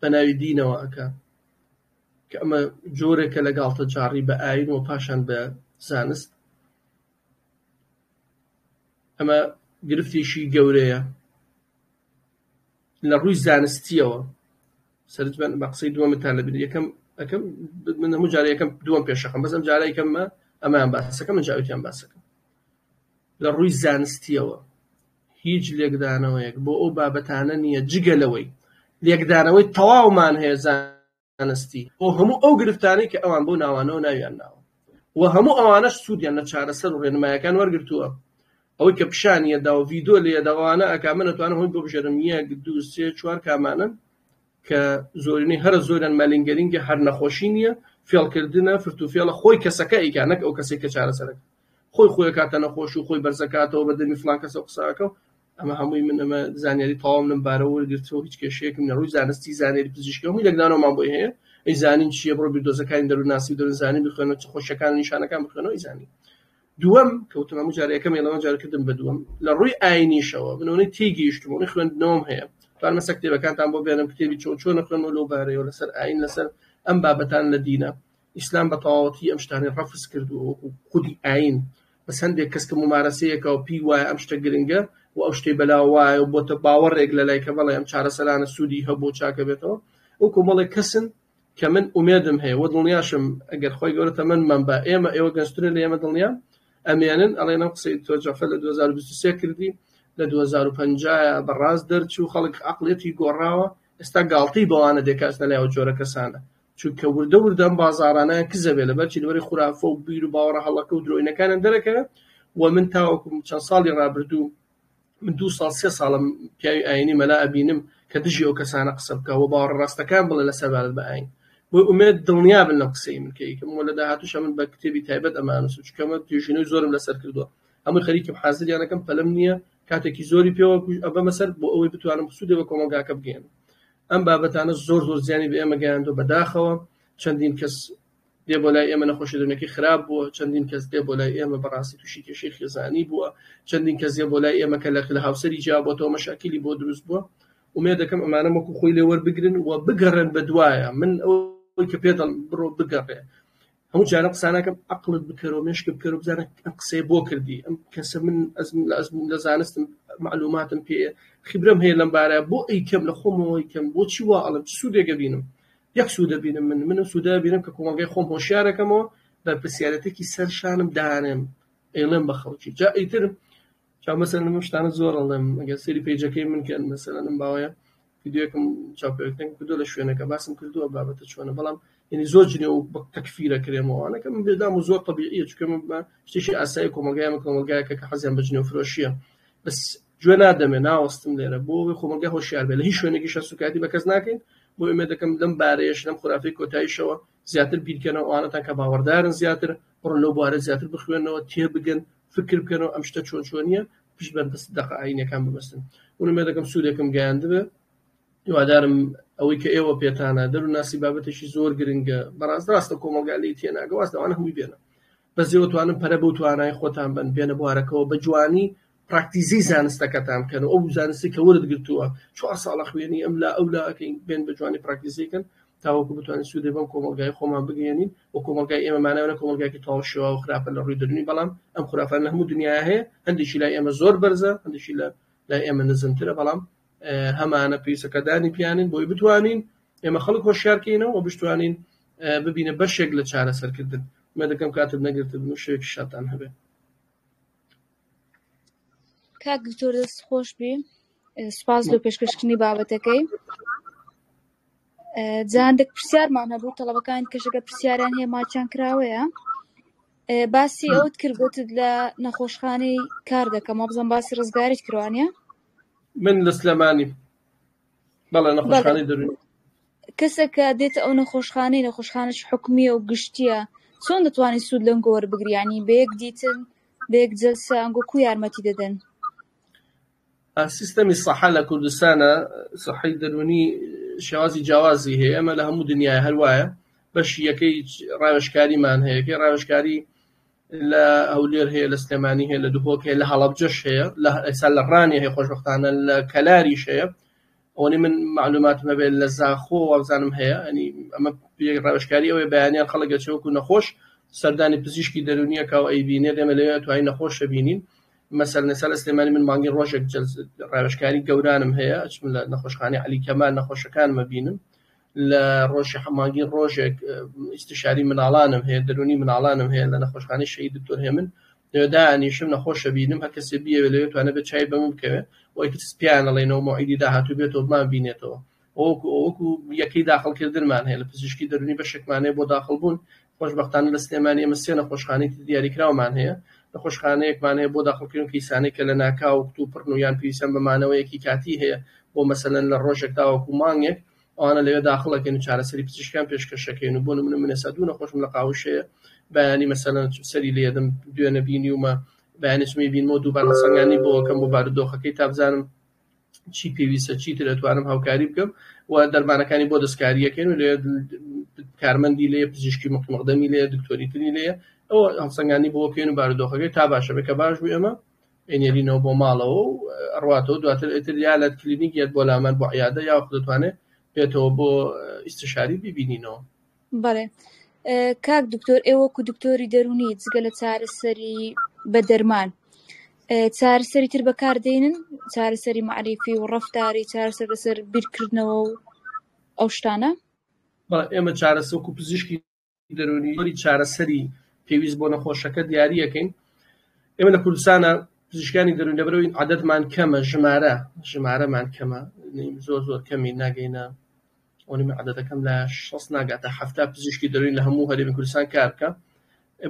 بەناوی دینەوە ئەکا کە ئەمە جۆرێکە لە گاڵتەجاڕی بە ئاین و پاشان بە زانست ئەمە گرفتێکی گەورەیە لە ڕووی زانستیەوە سەرج بن بە قسەی دووەمتان لە بینی یەکەم ئەەکەم من هەموو جارە یەکەم دووەم پێشەکەم بەسم جارای کەممە ئەمان باسەکە من جاوتیان باسەکەم لە ڕووی زانستیەوە هیچ لێکدانەوەیەک بۆ ئەو بابەتانە نییە جگە لەوەی لێکدانەوەی تەواومان هەیە زانستی بۆ هەموو ئەو گرفتانەی کە ئەوان بەو ناوانەوە ناویان ناوە و هەموو ئەوانەش سوودیان لە چارەسەر و ڕێنمایەکان وەرگرتووە ئەوەی کە پیشانی ئەدا و ڤیدۆ لێ دەوانە ئەکا من ئەتوانم هەمووی بۆ بژێرم یەک دوو سێ چوار کامانن کە زۆرینەی هەرە زۆریان مەلینگەرینگە هەر نەخۆشی نییە فێڵکردنە فرتوفێڵە خۆی کەسەکە ئەیکا نەک ئەو کەسێک کە چارەسەرەکە خۆی خۆی کاتە نەخۆش و خۆی بەرزەکاتەوە بە دەمی فلان کەسە قسەکە و ئەمە هەمووی من ئەمە زانیاری تەواوم لەم بارەوە وەرگرتەوە هیچ کێشەیەکم نە ڕووی زانستی زانیاری پزیشکی هەمووی لەگدانەوەمان بۆی هەیە ئەی زانین چیە بڕۆ بیردۆزەکانی دەروونناسی و دەروونزانی بخوێنەوە چ خۆشیەکان نیشانەکان بخوێنەوە زانین دووەم کەوتم هەموو جارە یەکەم لەمە جارکردم بە دووەم لە ڕووی ئاینیشەوە منەوەی تێگەیشتمەوەی خوێندنەوەم هەیە توان مەسە کتێبەکانتان بۆ بێنم کتێبی چۆن چۆنە خوێنەوە لەو بارەیەوە لەسەر ئاین لەسەر ئەم بابەتان لە دینە ئیسلام بە تەواوەتی ئەم شتانەی ڕەفز کردووە وەکو خودی ئاین بەس هەندێک کەس کە ممارەسەیەکە و پێی وایە ئەم شتە گرنگە و ئەو شتەی بەلا وایە و بۆتە باوەڕێک لە لای کە بەڵێ ئەم چارەسەرانە سوودی هەبوو چاکە بێتەوە ئەو کۆمەڵێک کەسن کە من ئومێدم هەیە وە دڵنیاشم ئەگەر خۆی گەورە تەمەنمان بە ئێمە ئێوە گەنجترە لە ئێمە دڵنیا ئەمێنن ئەڵێن ئەم قسەی تۆ جەفە لە 2023 کردی لە 2050 بەڕاست دەرچوو خەڵک عقلێتی گۆڕاوە ئێستا گاڵتەی بەوانە دێکاتنە لایەوە جۆرە کەسانە چونکە وردە وردە ئەم بازاڕانەیان کز ئەبێ لەبەرچی لەبەری خورافە و بیر و باوەڕە هەڵەکە و درۆینەکانیان دەرەکەوێ و من تاوەکو چەند ساڵی ڕابردوو من دوو ساڵ سێ ساڵم پیاوی ئاینی مەلا ئەبینم کە دژی ئەو کەسانە قسە بکە و باوەڕە ڕاستەکان بڵێ لە سەبارەت بە ئاین بۆ ئومێد دڵنیا بن لەم قسەی من کەیکم و لە داهاتوش من بە کتێبی تایبەت ئەمانوسم چونکە من توێژینەوەی زۆرم لەسەر کردووە ئەمە خەریکم حازریانەکەم پەلم نییە کاتێکی زۆری پێوە ئەبەمە سەر بۆ ئەوەی بتوانم سوودێ بە کۆمەڵگاکە بگەێنم ئەم بابەتانە زۆر زۆر زیانی بە ئێمە گەیاندو بەداخەوە چەندین کەس دێ بۆ لای ئێمە نەخۆشی دەرونەکەی خراپ بووە چەندین کەس دێ بۆ لای ئێمە بەڕاستی تووشی کێشەی خێزانی بووە چەندین کەس دێ بۆ لای ئێمە کە لە لە هاوسەری جیا بۆتەوە مەشاکیلی بۆ دروست بووە ئومێد دەکەم ئەمانە وەکو خۆی لێ وەربگرن و بگەڕێن بە دوایە من ئەو کە پێ دەڵم بڕۆ بگەڕێ هەموو جارە قساناکەم عقلت بکەرەوە مێشکە بکەرە بزانە ئەم قسەیە بۆ کردی ئەم کەسە من ئەزم لە ئەزم لە زانستم معلوماتم پێ خیبرم هەیە لەم بارە بۆ ئەی کەم لە خۆمەوەی کەم بۆچی وا ئەڵم چ سوودێکە بینم یەک سوودە بینم من منم سوودە بینم کە کۆمەڵگای خۆم هۆشیارەکەمەوە بە پرسیارەتێکی سەر شانم دانێم ئەڵێم بە خەڵکی جا ئیتر چا مەسەر من شتانە زۆر ئەڵێم ئەگەر سری پێجەکەی من کەن مەسەرم باوەیە ڤیدیۆیەکم چاپێکن کردو لە شوێنەکە باسم کردووە بابەتە چۆنە بەڵام یعنی زۆر جنێ و بەک تەکفیرە کرێمەوانەکە من بێدام و زۆر طبیعیە چکە من بە شتێکی ئاسایی کۆمەلگای من کۆمەلگایەکە کە حەزیان بە جنێ و فرۆشیە بەس گوێ نادەمێ ناوەستم لێرە بۆ ئەوەی خۆمەلگای هۆشیار بێ لە هیچ شوێنێکی شە سوکایەتی بە کەس ناکەین بۆ ئێمە دەکەم لەم بارەیەش لەم خرافی کۆتاییشەوە زیاتر بیرکەنەوە ئەوانەتان کە باوەڕدارن زیاتر بڕۆن لەو بوارە زیاتر بخوێنەوە تێبگەن فکر بکەن و ئەم شتە چۆن چۆنیە پشت بەن بەس دەق ئاینەکان ببەستن ونمێ دەکەم سوودێکم گەیاندبێ هیوادارم ئەوەی کە ئێوە پێتانە دەرو ناسی بابەتێکی زۆر گرنگە بەڕاست ڕاستە کۆمەلگا لی تێناگە واز داوانە هەمووی بێنە بەس ئێوە توانن پەرە بەو توانای خۆتان بن بێنە بوارەکەەوە بە جوانی پراکتیزی زانستەکەتان بکەن ئەو زانستی کە ورد گرتووە چوار ساڵە خوێنی ئەم لا ئەو لاکەین بێن بە جوانی پراکتیزیکەن تاوەکو بتوانین سوودێ بەم کۆمەڵگای خۆمان بگەیەنین و کۆمەڵگای ئێمە مانای ئەوەنە کۆمەڵگایەکی تەواو شێواو خراپە لە ڕووی دەرونی بەڵام ئەم خرافانە هەموو دنیاە هەیە هەندێکی لای ئێمە زۆر بەرزە هەندێکی لە لای ئێمە نزمترە بەڵام هەمانە پێیسەکەدانی پیانین بۆی بتوانین ئێمە خەڵک هۆشیارکەینەوە و بشتوانین ببینە بەشێک لە چارەسەرکردن مە دەکەم کاتت نەگرتبن و شێک شتان هەبێت کاک دکتۆر دەست خۆش بی سپاس لۆ پێشکەشکردنی بابەتەکەی جاندێک پرسیارمان هەبوو تەڵەبەکان کەشەکە پرسیاریان هەیە ماچیان کراوەیە باسی ئەوت کردگوت لە نەخۆشخانەی کار دەکەم مەبزم باسی ڕزگاریت کروانە من لە سلێمانی بەڵێ نەخۆشخانەی دەروونی کەسەکە دێتە ئەو نەخۆشخانەی نەخۆشخانەش حکومیە و گشتیە چۆن دەتوانانی سوود لەم گۆوەر بگریانی بەیەک دیتن بەیەک جلسە ئەنگۆ کو یارمەتی دەدەن سیستەمی سەحە لە کوردستانە سەحی دەروونی شێوازی جیاوازی هەیە ئەمە لە هەموو دنیای هەروایە بەشی یەکەی ڕاوێشکاریمان هەیەکەی ڕاوێشکاری لە هەولێر هەیە لە سلێمانی هەیە لە دهۆک هەیە لە هەڵبجەش هەیە لە ئێسا لە ڕانێ هەیە خۆشببختانە لە کەلاریش هەیە ئەوەی من معلوماتم هەبێت لە زاخۆ وابزانم هەیە ئەنی ئەمە ڕاوشکاری ئەوەی بەیانیان خەڵگە چۆک و نەخۆش سەردانی پزیشکی دەرونیە کاو ئەی بینێت ئێمە لەوێ توای نەخۆشە بینین مەسەر نەسا لە سلێمانی من مانگی ڕۆژێک ڕاوشکاری گەورانم هەیە چم لە نەخۆشخانی علی کەمان نەخۆشەکانمە بینم لە ڕۆژی حەمانگی ڕۆژێک ئیستشاری مناڵانم هەیە دەرونی مناڵانم هەیە لە نەخۆشخانەی شەهید دکتۆر هێمن لەوێ دانیشم نەخۆشە بینم هەر کەسێ بیەوێ لەوێ توانە بێت چای بە من بکەوێ وەی تر سپیان ئەڵێنەوە مەوعیدی داهاتوو بێتەوە بمان بینێتەوە وەکو ئەوەکو یەکەی داخڵکردنمان هەیە لە پزیشکی دەرونی بەشێکمان هەیە بۆ داخڵبوون خۆشبەختانە لە سلێمانی ئێمە سێ نەخۆشخانەی دیاریکراومان هەیە نەخۆشخانەیەکمان هەیە بۆ داخڵکردن کەیسانێک کە لە ناکاو و کتوپڕن و یان پێویستیان بە مانەوەیەکی کاتی هەیە بۆ مەسەلەن لە ڕۆژێک تاوەکو مانگێک ئەوانە لەوێ داخڵ ئەکەین و چارەسەری پزیشکیان پێشکەش ئەکەین و بۆ نموونە من ئێستا دوو نەخۆشم لە قاوشەیە بەیانی مەسەلەن سەری لێدەم دوێنە بینیومە بەیانی چمی بینمەوە دووبار هەڵسەنگاندنی بۆ ئەکەم بۆ بارودۆخەکەی تا بزانم چی پێویستە چیتر ئەتوانم هاوکاری بکەم و دەرمانەکانی بۆ دەستکاریەکەن و لێ کارمەندی لێ پزیشکی مقمەقدەمی لێ دکتۆری تری لێ ئەوە هەڵسەنگانی بۆکەین و بارودۆخەکەی تا باشە بێ کە باش بوو ئێمە ئەینێرینەوە بۆ ماڵەوە و ئەڕواتەوە دواتر ئیتر یا لە کلینیک یەت بۆ لامان بۆ عیادە یاوەخو دەتوانێ بێتەوە بۆ ئیستشاری بیبینینەوە. بەڵێ کاک دکتۆر ئێوە وەکو دکتۆری دەرونی جگە لە چارەسەری بە دەرمان چارەسەری تر بەکار دێنن چارەسەری معریفی و ڕەفتاری چارەسەر لەسەر بیرکردنەوە و ئەو شتانە؟ بەڵێ ئێمە چارەسەر وەکو پزیشکی دەروونی جۆری چارەسەری پێویست بۆ نەخۆشەکە دیاری یەکەین ئێمە لە کوردستانە پزیشکانی دەروون لەبەرەوەی عادەتمان کەمە ژمارە ژمارەمان کەمە زۆر زۆر کەمی ناگەینە ئەونی عادەتەکەم لە شەست ناگاتە هەفتا پزیشکی دەروین لە هەموو هەرێمی کوردستان کار بکە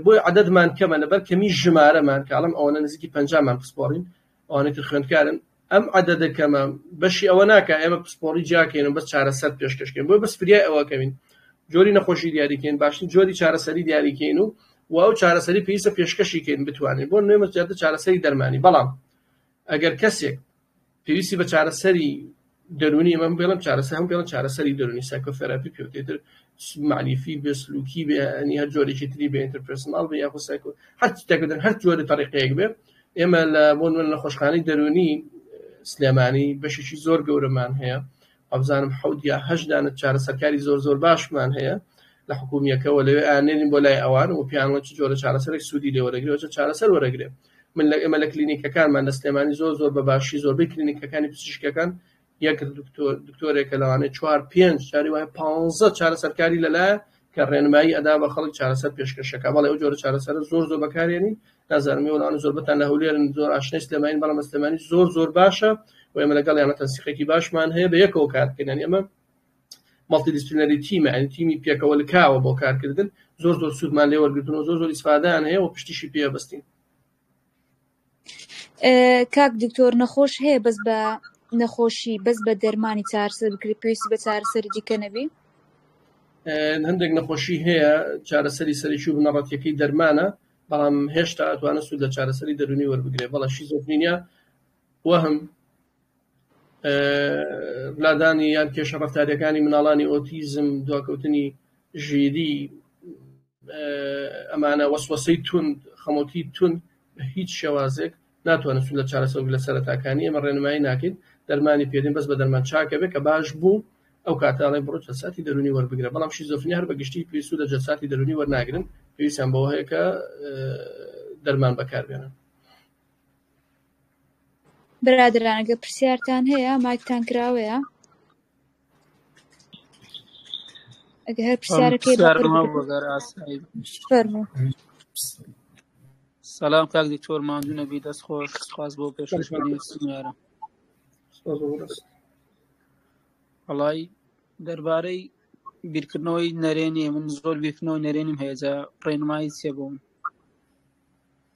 بۆی عادەتمان کەمە لەبەر کەمی ژمارەمان کاڵم ئەوەنە نزیکی پەنجامان پسپۆڕین ئەوانەی تر خوێندکارن ئەم عەدەدە کەمە بەشی ئەوە ناکە ئێمە پسپۆڕی جیاکەین بەس چارەسەر پێشکەشکەین بۆ بەس فریای ئەوەکەوین جۆری نەخۆشی دیاریکەین باشترین جۆری چارەسەری دیاریکەین و و ئەو چارەسەری پێویستە پێشکەشیکەین بتوانین بۆ نوێمە زیاتر چارەسەری دەرمانی بەڵام ئەگەر کەسێک پێویستی بە چارەسەری دەرونی ئەمە بێڵم چارەسە هەم بێڵە چارەسەری دەرونی سایکۆثراپی پێوتێتر معلیفی بێ سلوکی بێ ئەنی هەر جۆرێکی تری بێ ئینتەرپرسناڵ بێ یاخود سایکۆ هەر تێکدن هەر جۆری تەریقەیەک بێ ئێمە لە بۆ نوێن لە خۆشخانەی دەرونی سلێمانی بەشێکی زۆر گەورەمان هەیە ئەبزانم حەوت یا هەشدانە چارە سەرکاری زۆر زۆر باشمان هەیە لە حکومیەکەەوە لەوێ ئانێنین بۆ لای ئەوان و پیانەوە چ جۆرە چارەسەرێک سوودی لێ وەرەگرێت چارەسەر وەرەگرێت من لە ئێمە لە کلینیکەکانمان لە سلێمانی زۆر زۆر بە باشی زۆربەی کلینیکەکانی پزیشکەکان یەک دکتۆرێکە لەوانەیە چوار پێنج چاری وایە پ چارە سەرکاری لەلایە کە ڕێنمایی ئەدا بە خەڵک چارەسەر پێشکەشەکە بەڵێ ئەو جۆرە چارەسەر زۆر زۆر بەکارێنی نازانمی وڵان زۆربەتان لە هەولێرن زۆر ئاشنەی سلێمانی بەڵام سلێمانی زۆر زۆر باشە و ئێمە لەگەڵ یانە تەنسیقێکی باشمان هەیە بە یەکەوە کارکردن ئێمە مەڵتی دیسپلینەری تیمە یعنی تیمی پێکەوە لکاوە بۆ کارکردن زۆر زۆر سوودمان لێ وەرگتن و زۆر زۆر ئیسفادان هەیە و پشتیشی پێ بەستین کاک دکتۆر نەخۆش هەیە بەس بە نەخۆشی بەس بە دەرمانی چارسە بکری پێویستی بە چارسەری دیکە نەبی هەندێک نەخۆشی هەیە چارەسەری سەرکی و بنەڕەتەکەی دەرمانە بەڵام هێشتا ئەتوانە سوود لە چارەسەری دەرونی وەربگرێ بەڵە شیزۆفرینیا وەهم لادانی یان کێشە ڕفتاریەکانی مناڵانی ئۆتیزم دواکەوتنی ژیری ئەمانە وەسوەسی تون خەمۆکی تون بە هیچ شێوازێک ناتوانن سو لە چارەسەر لە سەرتاکانی ئەمە ڕێنمایی ناکەین دەرمانی پێدین بەس بە دەرمان چاکە بێ کە باش بوو ئەو کاتانەی بڕۆ جەساتی دەرونی وەربگرە بەڵام شیزۆفنی هەر بە گشتی پێویست لە جەساتی دەرونی وەرناگرن پێویستیان بەوە هەیە کە دەرمان بەکاربێنن برادەران ئەگەر پرسیارتان هەیە مایکتان کراوەیە ئەگەر هەر پرسیارەکەی فەرموو سلام کاک دکتۆر ماندوو نەبی دەست خۆش سپاس بۆ پێشکەشکردنی سنیارە وڵی دەربارەی بیرکردنەوەی نەرێنی من زۆر بیرکردنەوەی نەرێنیم هەیەجا ڕێنمایی چێ بووم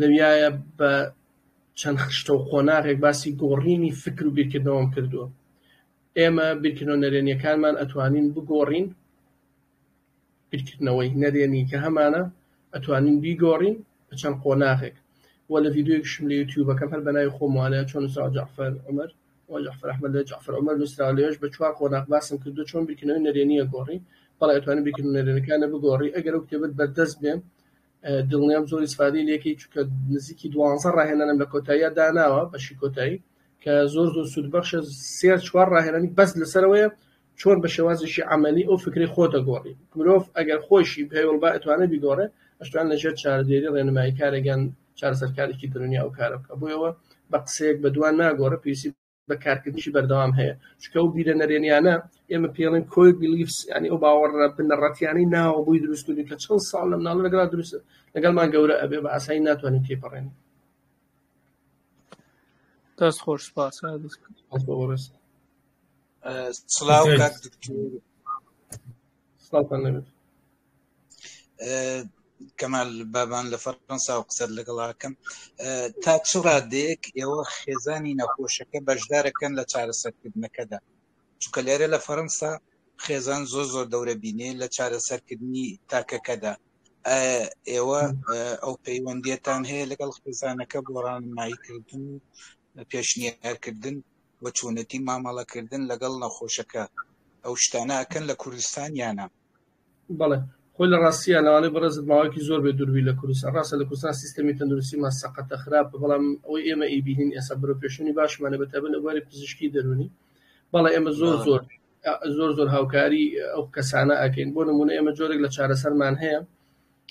لەویایە بە چەند خشتە و قۆناغێک باسی گۆڕینی فکر و بیرکردنەوەم کردووە ئێمە بیرکردنەوە نەرێنیەکانمان ئەتوانین بگۆڕین بیرکردنەوەی نەرێنی کە هەمانە ئەتوانین بیگۆڕین بە چەند قۆناغێک و لە ڤیددیوکشم لە یوتیوبەکەم هەر بەناوی خۆموانە چۆن نووسراوە جعفر عمر و جعفر ئەحمد لە جعفر عمر نووسراوە لەوێش بە چوار قۆناغ باسم کردو چۆن بیرکردنەوەی نەرێنیە گۆڕی بەڵێ ئەتوانین بیرکردنەوە نەرێنەکانە بگۆڕی ئەگەر ئەو کتێبت بەردەست بێ دڵنیام زۆر ئیسفادەی لێکەی چونکە نزیکی دوانزە ڕاهێنانم لە کۆتاییا داناوە بەشی کۆتایی کە زۆر زۆر سوود بەخشە سێ چوار ڕاهێنانی بەس لەسەرەوەیە چۆن بە شێوازێکی عملی ئەو فکری خۆ دەگۆڕی مرۆڤ ئەگەر خۆشی پێوەڵ با ئەتوانێت بیگۆڕێ ئەشتوان لەژێر چارەدێری ڕێنمایی کارێکیان چارەسەرکارێکی درونی ئەو کارە بکە بۆیەوە بە قسەیەک بە دوان ناگۆڕە پێویستی بە کارکردنیشی بەردەوام هەیە چکە و بیرە نەرێنیانە ئێمە پێڵێن کۆی بلیفس ینی ئەو باوەڕە بنەڕەتیانەی ناوە بۆی دروستکردی کە چەند ساڵ لە مناڵ لەگەڵ دروست لەگەڵمان گەورە ئەبێ بە ئاسایی ناتوانین پێی پەڕێن دەست خۆش سپاس سلااو کەمال بابان لە فەرەنسا و قسەر لەگەڵاکەم تا چ ڕادێک ئێوە خێزانی نەخۆشەکە بەشدارەکەن لە چارەسەرکردنەکەدا چکە لێرە لە فەرەنسا خێزان زۆر زۆر دەورە بینێ لە چارەسەرکردنی تاکەکەدا ئێوە ئەو پەیوەندیتان هەیە لەگەڵ خێزانەکە بۆ ڕانماییکردن و پێشنیارکردن و چۆنێتی مامەڵەکردن لەگەڵ نەخۆشەکە ئەو شتانە ئەکەن لە کوردستان یان نا؟ بەڵێ خۆی لە ڕاستیە ناوانەی بەڕێزت ماوەیەکی زۆر بێ دووربووی لە کوردستان ڕاستە لە کوردستان سیستەمی تەندروستیمان سەقەتە خراپە بەڵام ئەوەی ئێمە ئەیبینین ئێستا بەرەوپێشچوونی باشمانە بە تایبەت لە بواری پزیشکی دەروونی بەڵێ ئێمە زۆر زۆر زۆر زۆر هاوکاری ئەو کەسانە ئەکەین بۆ نمونە ئێمە جۆرێک لە چارەسەرمان هەیە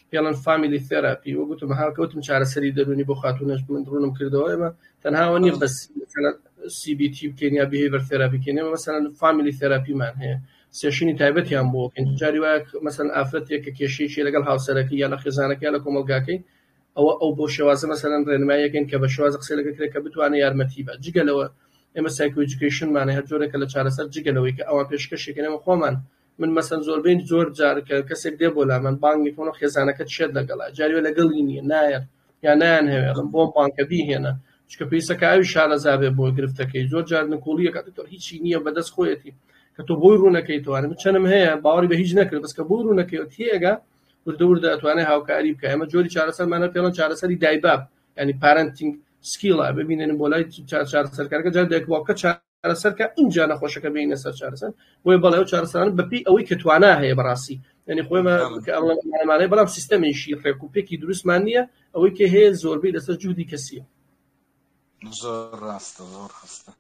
پێڵن فامیلی ثێراپی وەک گوتم هاوکەوتم چارەسەری دەرونی بۆ خاتونەش من ڕونم کردەوە ئێمە تەنها ئەوە نیە بەس سی بی تی بکەین یا بیهیڤەر ثێراپی کەین ئێمە مەسەلەن فامیلی ثێراپیمان هەیە سێشنی تایبەتیان بۆ بکەین جاری وایە مەسەلەن ئافرەتێک کە کێشەیەکی لەگەڵ هاوسەرەکە یا لە خێزانەکە یا لە کۆمەڵگاکەی ئەوە ئەو بۆ شێوازە مەسەلەن ڕێنماییەکەن کە بە شێواز قسە لەگە کرێت کە بتوانێت یارمەتی بە جگە لەوە ئێمە سایکۆجیکیشنمانە هەر جۆرێکە لە چارەسەر جگە لەوەی کە ئەوان پێشکەشێکەکەنەوە خۆمان من مەسەن زۆربەی زۆر جار کە کەسێک دێ بۆ لا من بانگی کۆنە خێزانەکەت شێت لەگەڵا جاروێ لەگەڵی نیە نایەت یا نایان هەوێڵم بۆ بانکە بیهێنە چکە پێیسەکە ئەوی شارەزابێ بۆ گرفتەکەی زۆر جار نکۆڵیەکە دکتۆر هیچی نییە بەدەست خۆیەتی کە تۆ بۆی ڕوونەکەی توانە من چەنم هەیە باوەڕی بە هیچ نەکرد بەس کە بۆی ڕوونەکەی تێگە وردە وردە ئەتوانێت هاوکاری بکە ئەمە جۆری چارەسەرمانە پێڵەن چارەسەری دایباب ینی پارنتینگ سکیڵە ببینێن بۆ لای چارچار سەرکارەکە جار دەکبووکە چار چارەسەر کە ئینجا نەخۆشەکە بینە سەر چارەسەر بۆی بەڵێ و چارەسەران بەپی ئەوەی کە توانا هەیە بەڕاستی ینی خۆمانەمانەی بەڵام سیستەمێکی ڕێک و پێکی دروستمان نییە ئەوەی کە هەیە زۆربەی لەسەر جوودی کەسیە زۆر ڕاستە زۆر ڕاستە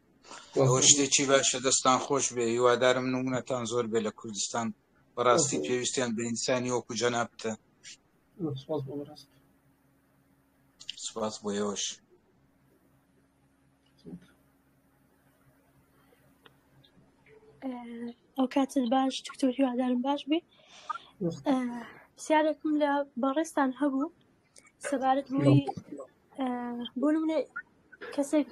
ئەوە شتێکی باشە دەستان خۆش بێ هیوادارم نمونەتان زۆر بێ لە کوردستان بەڕاستی پێویستیان بە ئینسانی وەکو جەنابتە سپاس بۆ ئێوەش ئەوکاتت باش دکتۆری وادارم باش بێ پرسیارێکم لە بەڕێستان هەبوو سەبارەت بۆی بۆ منێ کەسێک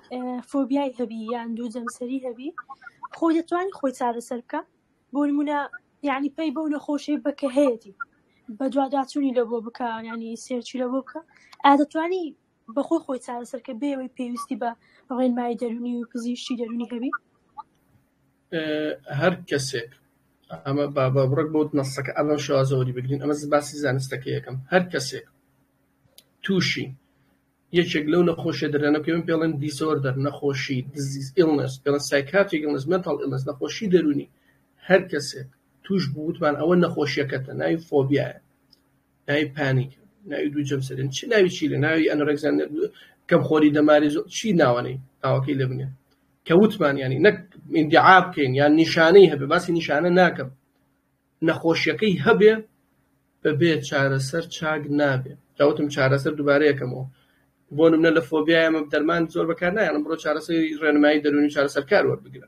فۆبیای هەبی یان دوو جەمسەری هەبی خۆ دەتوانانی خۆی چارەسەر بکە بۆ نمونە یعنی پێی بەو نەخۆشی بەکە هەیەی بە دواداچوونی لە بۆ بکە ینی سێرچی لە بۆ بکە ئادەتوانی بە خۆی خۆی چارەسەر کە بێ ئەوەی پێویستی بە ڕێنمایی دەروونی و پزیشکی دەروونی هەبی هەر کەسێک ئەمە بابا بڕک بۆ نەسەکە ئەمە شازەوەری بگرین ئەمە باسی زانستەکە یەکەم هەر کەسێک تووشی یەکێک لەو نەخۆشە دەرانە پێم پێڵێن دیسۆردەر نەخۆشی دزیز ئیلنس پێڵە سایکاتیک ئیلنس مێنتاڵ ئیلنس نەخۆشی دەرونی هەر کەسێک توش بووتمان ئەوە نەخۆشیەکەتە ناوی فۆبیایە ناوی پانیک ناوی دوو جەمسەرێن چی ناوی چی لە ناوی ئەنۆرەکسیان کەم خۆری دەماری زۆر چی ناوانەی ناوەکەی لێ بنێن کە وتمان ینی نەک ئیندعا بکەین یان نیشانەی هەبێ باسی نیشانە ناکەم نەخۆشیەکەی هەبێ بەبێ چارەسەر چاک نابێ جاوتم چارەسەر دووبارەیەکەمەوە بۆ نمونە لە فۆبیایە مە دەرمان زۆر بەکار نایەنم بڕۆ چارەسەری ڕێنمایی دەرونی چارەسەرکار وەربگرە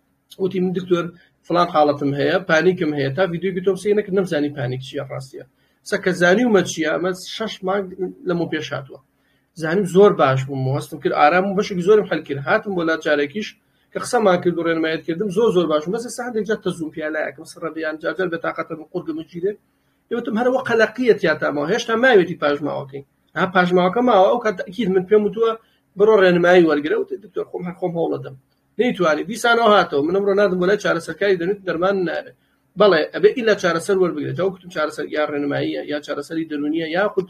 وتی من دکتۆر فلان حاڵەتم هەیە پانیکم هەیە تا ڤیددیوگی تۆم سینەک نەمزانی پانیک چیە ڕاستە سەکە زانی ومە چیە ئەمە شش مانگ لەمە پێش هاتووە زانیم زۆر باش بووم هەستم کرد ئارام و بەشێک زۆرم هەلکرد هاتم بۆ لا جارێکیش کە قسەمان کرد و ڕێنمایەت کردم زۆر زۆر باش بەس سا هەندێک جار تەزوم پیالایەکم سڕەبیان جاجار بەتاقەتە من قورگم گیرێ یوتم هەرەوە قەلەقیە تیاتامەوە هێشتا ماوێتی پاژماوەکەی ها پاژماوەکە ماوە ئەو کات تەکیید من پێم وتووە بڕۆ ڕێنمایی وەرگرە و دکتۆر خۆم هەر خۆم هەوڵەدەم نەیتوانی دیسان ئەو هاتەوە من ئەمڕۆ ناردم بۆ لای چارەسەرکاری دەنوت دەرمانم ناوێ بەڵێ ئەبێ ئیلا چارەسەر وەربگرێت ئەو کتم چارەسەر یا ڕێنماییە یا چارەسەری دەرونیە یاخود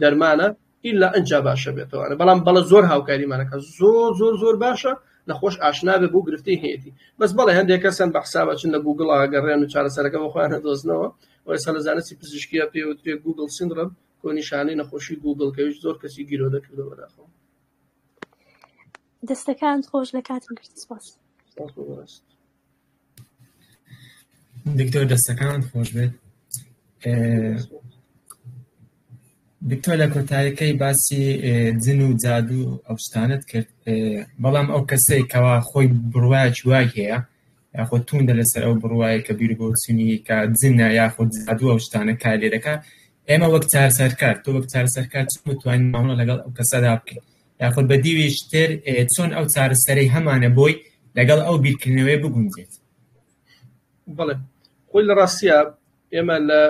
دەرمانە ئیلا ئەجا باشە بێتەوەە بەڵام بەڵە زۆر هاوکاریمانەکە زۆر زۆر زۆر باشە نەخۆش ئاشنابێ بۆ گرفتی هەیەی بەس بەڵێ هەندێک کەسن بە حسابە چن لە گوگڵ ئەگەڕێن و چارەسەرەکە بەخۆیانە دۆزنەوە ئەوسا لە زانستی پزیشکیە پێوترێ گوگل سندڕم کۆنیشانی نەخۆشی گوگل کەویش زۆر کەسی گیرۆدە کردەوە داخۆ دەستەکانت خۆش لە کاتم گرت سپاس سپاس بۆ بەڕێزت. دکتۆر دەستەکانت خۆش بێت ئێ، دکتۆر لە کۆتایەکەی باسی ئێ، جن و جادو و ئەو شتانت کرد ئێ، بەڵام ئەو کەسەی کەوا خۆی بڕواکی وای هەیە یاخود توندە لەسەر ئەو بڕوایە کە بیر بۆ چنی کە جنە یاخود جادو ئەو شتانە کار لێ دەکات ئێمە وەک چارسەرکار تۆ وەک چارسەرکار چ متوانین مامەڵە لەگەڵ ئەو کەسەدا بکەین یاخود بە دیوێکی تر چۆن ئەو چارەسەرەی هەمانە بۆی لەگەڵ ئەو بیرکردنەوەی بگونجێت بەڵێ خۆی لە ڕاستە ئێمە لە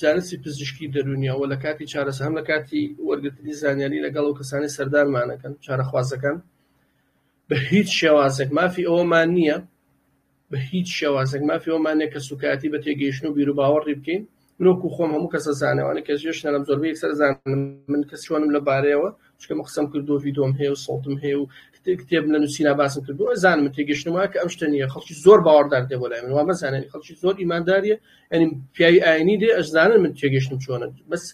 زانستی پزیشکی دەرونیەوە لە کاتی چارەسە هەم لە کاتی وەرگرتنی زانیاری لەگەڵ و کەسانی سەردانمانەکەن چارەخوازەکان بە هیچ شێوازێک مافی ئەوەمان نییە بە هیچ شێوازێک مافی ئەوەمان نیە کە سوکایەتی بە تێگەیشتن و بیروباوەڕی بکەین من وەکو خۆم هەموو کەسە زانەوانی کە جێش نەرم زۆربە یەکسەر زانم من کەس چۆنم لە بارەیەوە چکەمە قسەم کردو ڤیدۆم هەیە و سەڵتم هەیە و کتێبم لە نووسینا باسم کردو زانم من تێگەشتم وایە کە ئەم شتە نیە خەڵکی زۆر باوەڕدار دێ بۆ لای من وا مەزانێن خەڵکی زۆر ئیمانداریە ئەنی پیاوی ئاینی دێ ئەشزانن من تێگەشتم چۆنە بەس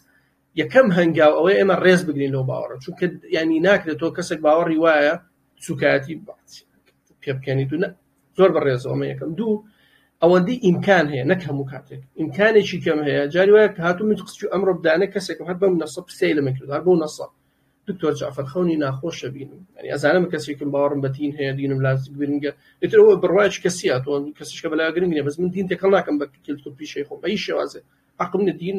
یەکەم هەنگاو ئەوەی ئێمە ڕێز بگرین لەو باوەڕە چونکە ینی ناکرێت تۆ کەسێک باوەڕی وایە سوکایەتی پێ بکەنی دوو زۆر بە ڕێزەوەمە یەکەم دوو ئەوەندی ئیمکان هەیە نەک هەموو کاتێک ئیمکانێکی کەم هەیە جاری وایە کە هاتو من قسچ ئەمڕۆ بدانە کەسێک هەر بەم نەسە پرسی لە من کردار بۆ نەسە دکتۆر جعفر خەونی ناخۆشە بینم ینی ئەزانم کەسێکم باوەڕم بەتین هەیە دینم لاز گرنگە ئترەوە بڕواش کەسیە تۆ کەسیشکە بەلا گرنگە بەس من دین تێکەڵ ناکەم بە کلتور پیشەی خۆم ئەی شێوازێ عقم دین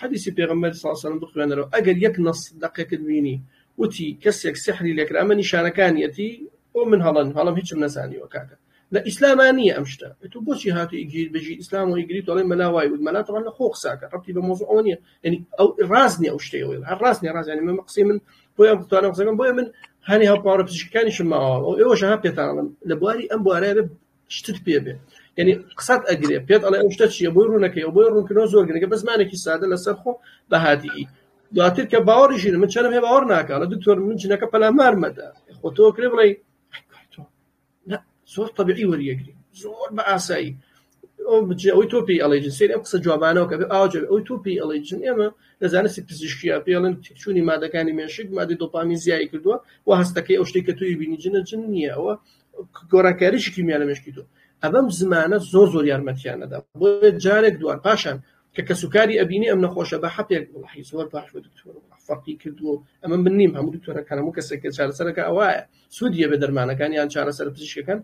حەدیسی پێغەمبەر صلی اللە علیە و سلم بخوێنەرەوە ئەگەر یەک نەص دەقێکت بینی وتی کەسێک سحری لێکرا ئەمە نیشانەکانیەتی بۆ من هەڵەن هەڵەم هیچم نەزانیوە کاکە لە ئیسلاما نییە ئەم شتە تو بۆچی هاتووی گیر بژی ئیسلام و ئیگری تۆڵی مەلا وای وت مەلا تەوان لە خۆ قساکە ڕەبتی بە مۆزوع ئەوە نییە یعنی ئەو ڕاز نییە ئەو شتەی ئەوەی هەر ڕاز نییە ڕاز یعنی من قسەی من بۆیە بتوانم قسەکەم بۆیە من هەنێ هەپاڕە پزیشکەکانیشم ماوە ئەو ئێوەش ها پێتانڵم لە بواری ئەم بوارە شتت پێ بێ یعنی قسەت ئەگرێ پێت ئەڵێ ئەو شتە چیە بۆی ڕوونەکەی ئەو بۆی ڕوونکردنەوە زۆر گرنگە بە زمانێکی سادە لەسەر خۆ بە هادیی دواتر کە باوەڕی ژیر من چەنم هێ باوەڕ ناکەڵە دکتۆر من جنەکە پەلامار مەدە خۆ تۆ کرێ بڵێ زۆر طبیعی وەریەگری زۆر بە ئاسایی ئەوی تۆ پێی ئەڵی جنسی ئەم قسە جوابانەوە کە ئاوج ئەوی تۆ پێی ئەڵی جن ئێمە لە زانستی پزیشکیا پێڵن تیکچوونی مادەکانی مێشک مادی دۆپامی زیایی کردووە و هەستەکەی ئەو شتێک کە توی بینی جنە جن نییە ئەوە گۆڕانکاریی کیمیا لە مێشکی تۆ ئەبەم زمانە زۆر زۆر یارمەتیان نەدا بۆ جارێک دووار پاشان کە کەسوکاری ئەبینی ئەم نەخۆشە بە حەپێک وڵحی زۆر باش بە دکتۆر فەرقی کردو ئەمە من نیم هەموو دکتۆرەکان هەموو کەسێک کە چارەسەرەکە ئەوایە سوودیە بە دەرمانەکان یان چارەسەر پزیشکەکان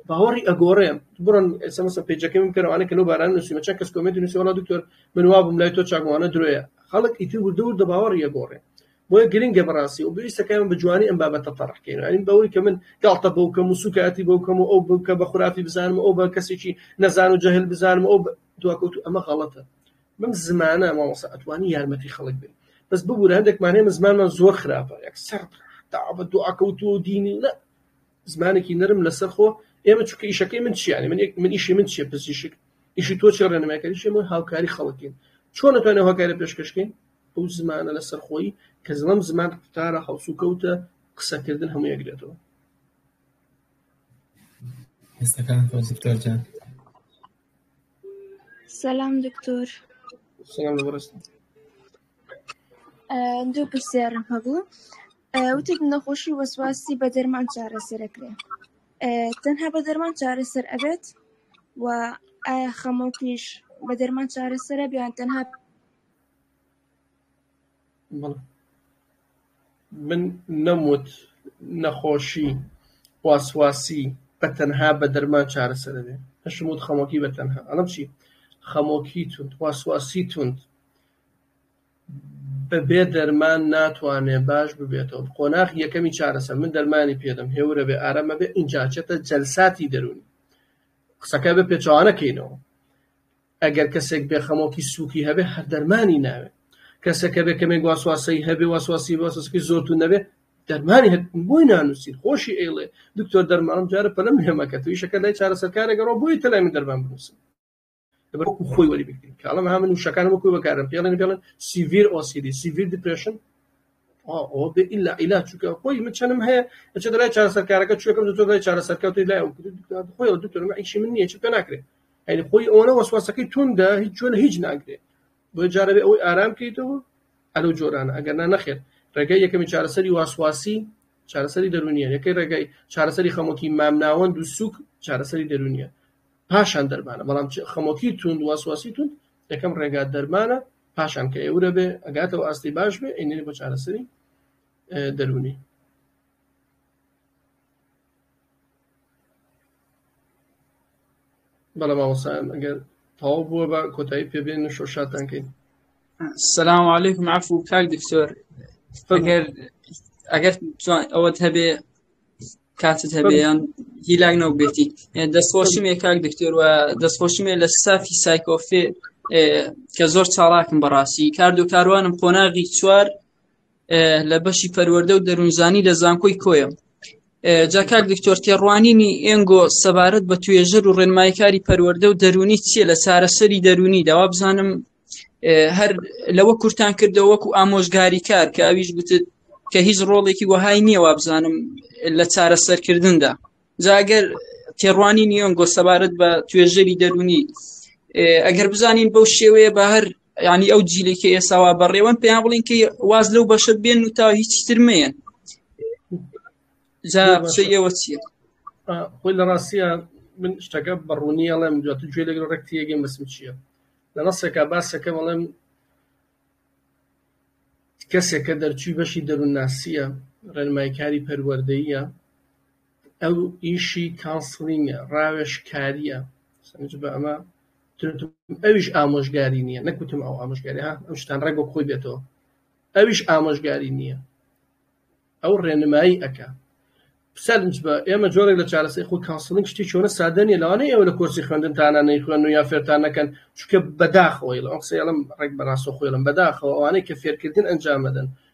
باوەڕی ئەگۆڕێم بڕن ئسمسە پێجەکەم کەەوانە کە لەو باران نووسیمە چە کەس کۆمێنتی نووسیوەڵا دکتۆر من وابم لای تۆ چاگوانە درۆیە خەڵک ئیتر وردە وردە باوەڕی ئەگۆڕێ بۆیە گرنگە بەڕاستی و پێویستە کە ئێمە بە جوانی ئەم بابەتە تەڕح کەین یانی بەوەی کە من گاڵتە بەو کەم و سووکایەتی بەو کەم و ئەو بم کە بە خورافی بزانم و ئەو بە کەسێکی نەزان و جەهل بزانم و ئەو بە دواکەوتوو ئەمە غەڵەتە بەم زمانە مامۆستا ئەتوانی یارمەتی خەڵک بێت بەس ببوورە هەندێکمان هەیە زمانمان زۆر خراپە یەک سەر داوا بە دواکەوتوو و دینی نە زمانێکی نەرم لەسەر خۆ ئێمە چونکە ئیشەکەی من چییانی من یەک من ئیشی من چیە پزیشک ئیشی تۆ چێ ڕێنمایکاری چێمە هاوکاری خەڵکین چۆن نتوانێت هۆکارە پێشکەشکەین ئەو زمانە لەسەر خۆی کە زڵم زمان قوتارە هەڵسوکەوتە قسەکردن هەموو یەکرێتەوە هەستەکان خۆ دکتۆر جان سلام دکتۆر سلام لەبڕست دوو پرسیارم هەبوو وتێک نەخۆشی وەسواسی بە دەرمان چارەسەرەکرێ تەنها بە دەرمان چارەسەر ئەبێت و ئایا خەمۆکیش بە دەرمان چارەسەرە بیان تەنها من نەموت نەخۆشی واسواسی بە تەنها بە دەرمان چارەسەر دەبێت، ئەشم وت خەمۆکی بە تەنها ئەڵێم چی خەمۆکی توند واسواسی توند بە بێ دەرمان ناتوانێت باش ببێتەوە قۆناغی یەکەمی چارەسەر من دەرمانی پێ دەم هێورە بێ ئارامە بێ ئینجا چێتە جەلساتی دەروونی قسەکە بە پێچەوانە کەینەوە. ئەگەر کەسێک بێ خەمۆکی سوکی هەبێ هەر دەرمانی ناوێ کەسەکە بێ کەمێک واسواسەی هەبێ واسواسی واسەسکی زۆر تو نەبێ دەرمانی هەر بۆی نانووسین خۆشی ئەیڵێ دکتۆر دەرمانم جارە پەلم هێمەکە تویشەکە لای چارەسەرکارێکەڕۆ بۆی تەلای من دەرمان بنووسن بەکو خۆی وەری بکرین کاڵم ها من وشەکان وەکو بەکارم پێڵێن پێڵن سیڤیر ئۆسیدی سیڤیر دیپرشن ئەوە بێ ئیلا ئیلا چووکە خۆی من چەنم هەیە ئەچێت لای چارەسەرکارەکە چوەکەم دکتۆر لای چارەسەرکە توی لای خۆی دکتۆر ئیشی من نییە چ پێ ناکرێت یعنی خۆی ئەوەنە وەسواسەکەی توندە هیچ چۆن هیچ ناگرێ بۆ جارەبێ ئەوەی ئارام کەیتەوە ئەلو جۆرانە ئەگەر نا نەخێر ڕێگەی یەکەمی چارەسەری واسواسی چارەسەری دەرونیە یەکەی ڕێگای چارەسەری خەمۆکی مامناوەند و سوک چارەسەری دەرونیە پاشان دەرمانە بەڵام خەمۆکی توند واسواسی توند یەکەم ڕێگا دەرمانە پاشان کە ئێورە بێ ئەگاتەوە ئاستی باش بێ ئەینێ بۆ چارەسەری دەرونی بەڵێ مامۆسایان ئەگەر تەواو بووە بە کۆتایی پێبێن شۆ شاتان کەین سلام علیکم عفو کاک دکتۆر ئەگەر ئەگەر ئەوەت هەبێ کاتت هەبێیان هیلاک نەو بێتی دەستخۆشی مێ کاک دکتۆر و دەستخۆشی مێ لە سافی سایکۆفێ کە زۆر چاڵاکم بەڕاستی کاردو کاروانم قۆناغی چوار لە بەشی پەروەەردە و دەروونزانی لە زانکۆی کۆیە جاکار دکتۆر تێڕوانینی ئێنگۆ سەبارەت بە توێژەر و ڕێنمایکاری پەروەەردە و دەرونی چییە لە چارەسەری دەرونی داوا بزانم هەر لەوە کورتان کردەوە وەکو ئامۆژگاری کار کە ئەویش گوتت کە هیچ ڕۆڵێکی وەهای نییە وابزانم لە چارەسەرکردندا جاگەر تێڕوانی نیۆنگۆ سەبارەت بە توێژەری دەرونی ئەگەر بزانین بەو شێوەیە بە هەر یعنی ئەو جیلێکی ئێساوا بەڕێوەن پێیان بڵین کە واز لەو بەشە بێن و تا هیچ ترمەیەن جا قسە ئێوە چیە خۆی لە ڕاستە من شتەکە بەڕوونی ئەڵێم دوات گوێ لەگەڵ ڕێکتیەگەم بەسم چییە لە ڕاستێکا باسەکە بەڵێم کەسێکە دەرچوی بەشی دەروونناسیە ڕێنمایکاری پەروەردەیە ئەو ئیشی کانسڵینگە ڕاوێژکاریە سەنجبە ئەمە ئەویش ئامۆژگاری نییە نەکوتم ئەو ئامۆژگاری ها ئەم شتان ڕێک بۆ خۆی بێتەوە ئەویش ئامۆژگاری نییە ئەو ڕێنمایی ئەەکە سەرنج بە ئێمە جۆرێک لە چارەسەی خۆ کانسڵنگ شتی چۆنە سادە نیە لەوانەیە ئێوە لە کۆرسی خوێندنتانە نەیخوێن و یا فێرتان نەکەن چکە بەداخەوەی لە ئەم قسەیەڵم ڕێک بەڕاستە خۆێڵم بەداخەوە ئەوانەی کە فێرکردن ئەنجامەدەن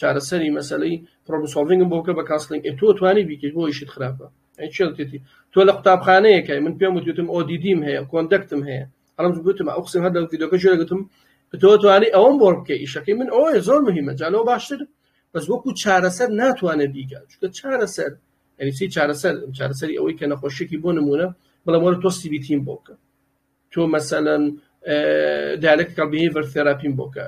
چارەسەری مەسەلەی پرۆبلم سۆڵڤینگم بۆ بکە بە کاسڵینگ ئێ تۆ توانی بیکەیت بۆ ئیشت خراپە ئەی چێ وتێتی تۆ لە قوتابخانەیەکای من پێم وتوتم ئۆدیدیم هەیە کۆندەکتم هەیە ئەڵم گوتم ئەو قسم هەر لە ڤیدۆکە جوێ گوتم تۆ توانی ئەوەم بۆ بکە ئیشەکەی من ئەوەیە زۆر مهمە جالەوە باشتر بەس وەکو چارەسەر ناتوانێت بیکە چونکە چارەسەر یعنی چی چارەسەر چارەسەری ئەوەی کە نەخۆشیێکی بۆ نمونە بڵێم وەرە تۆ سیبیتیم بۆ بکە تۆ مەسەلەن دیالکتیکال بیهیڤەر ثێراپیم بۆ بکە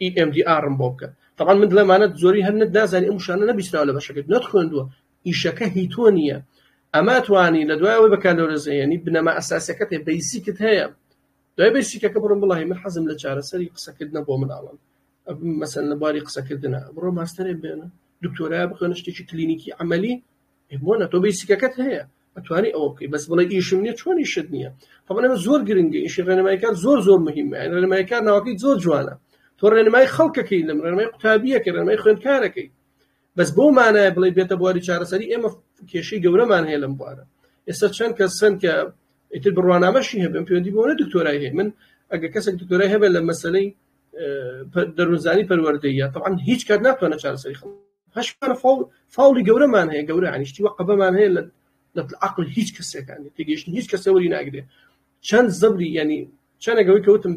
EMDR م بۆ بکە تەبان من دڵێمانە زۆری هەر نت نازانی ئەم وشانە نەبیستراوە لە بەشەکەت نەت خوێندووە ئیشەکە هی تۆ نییە ئەما توانی لە دوای ئەوەی بەکالۆرزەیەنی بنەما ئەساسەکەت هەیە بەیسیکت هەیە دوای بەیسیکەکە بڕم بڵی من حەزم لە چارەسەری قسەکردنە بۆ مناڵم مەسەن لە باری قسەکردنە بڕۆ ماستەرێ بێنە دکتۆرای بخوێنە شتێکی کلینیکی عملی بۆنە تۆ بیسیکەکەت هەیە ئەتوانی ئەوە بکەی بەس بڵێ ئیشم نیە چۆنی شت نییە تەمەە زۆر گرنگە ئیشی ڕێنمایکار زۆر زۆر مهمە ڕێنمایکار ناوەکەی زۆر جوانە تۆ ڕێنمای خەڵکەکەی لەم ڕێنمای قوتابیەکە ڕێنمای خوێندکارەکەی بەس بۆ مانایە بڵێ بێتە بواری چارەسەری ئێمە کێشەی گەورەمان هەیە لەم بوارە ئێستا چەند کە سند کە ئیتر بڕوانامەشی هەبێن پێوەندی بۆنە دکتۆرای هەیە من ئەگە کەسێک دکتۆرای هەبێت لە مەسلەی دەروونزانی پەروەردەیە تەعاان هیچ کات ناتوانە چارەسەری خەڵ هەش فاڵ فاڵی گەورەمان هەیە گەورە ئەنیشتی وە قەبەمان هەیە لە عقل هیچ کەسەکانی تێگەشتن هیچ کەسەوەری ناگرێ چەند زەبری ینی چەنەگەوەی کەوتم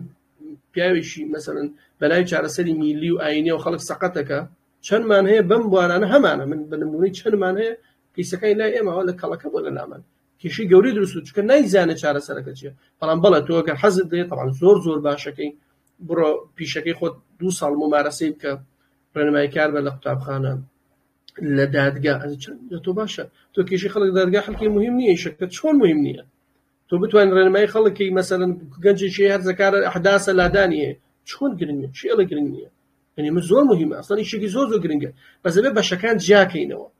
پیاوێکی مەسەن بەلای چارەسەری میلی و ئاینە و خەڵک سەقەتەکە چەندمان هەیە بەم بوارانە هەمانە من بنمونی چەندمان هەیە کەیسەکانی لای ئێمەوە لە کەڵەکە بۆ لە لامان کێشەی گەورەی دروست بوو چونکە نایزانێت چارەسەرەکە چیە بەڵام بەڵێ تۆ گەر حەزت دەیە تەعام زۆر زۆر باشەکەی بڕۆ پیشەکەی خۆت دوو ساڵ ممارەسەی بکە ڕێنمای کار بە لە قوتابخانە لە دادگا لە تۆ باشە تۆ کێشی خەڵک دادگا خەڵکی مهم نییە شەکە چۆن مهم نییە تۆ بتوان ڕێنمای خەڵکی مەسەن گەنجێکی هەرزەکارە حداسە لادانیە چۆن گرنگە چێڵە گرنگ نییە یعنی من زۆر مهمە ئەسڵی شێکی زۆر زۆر گرنگە بەزەبێ بەشەکان جیاکەینەوە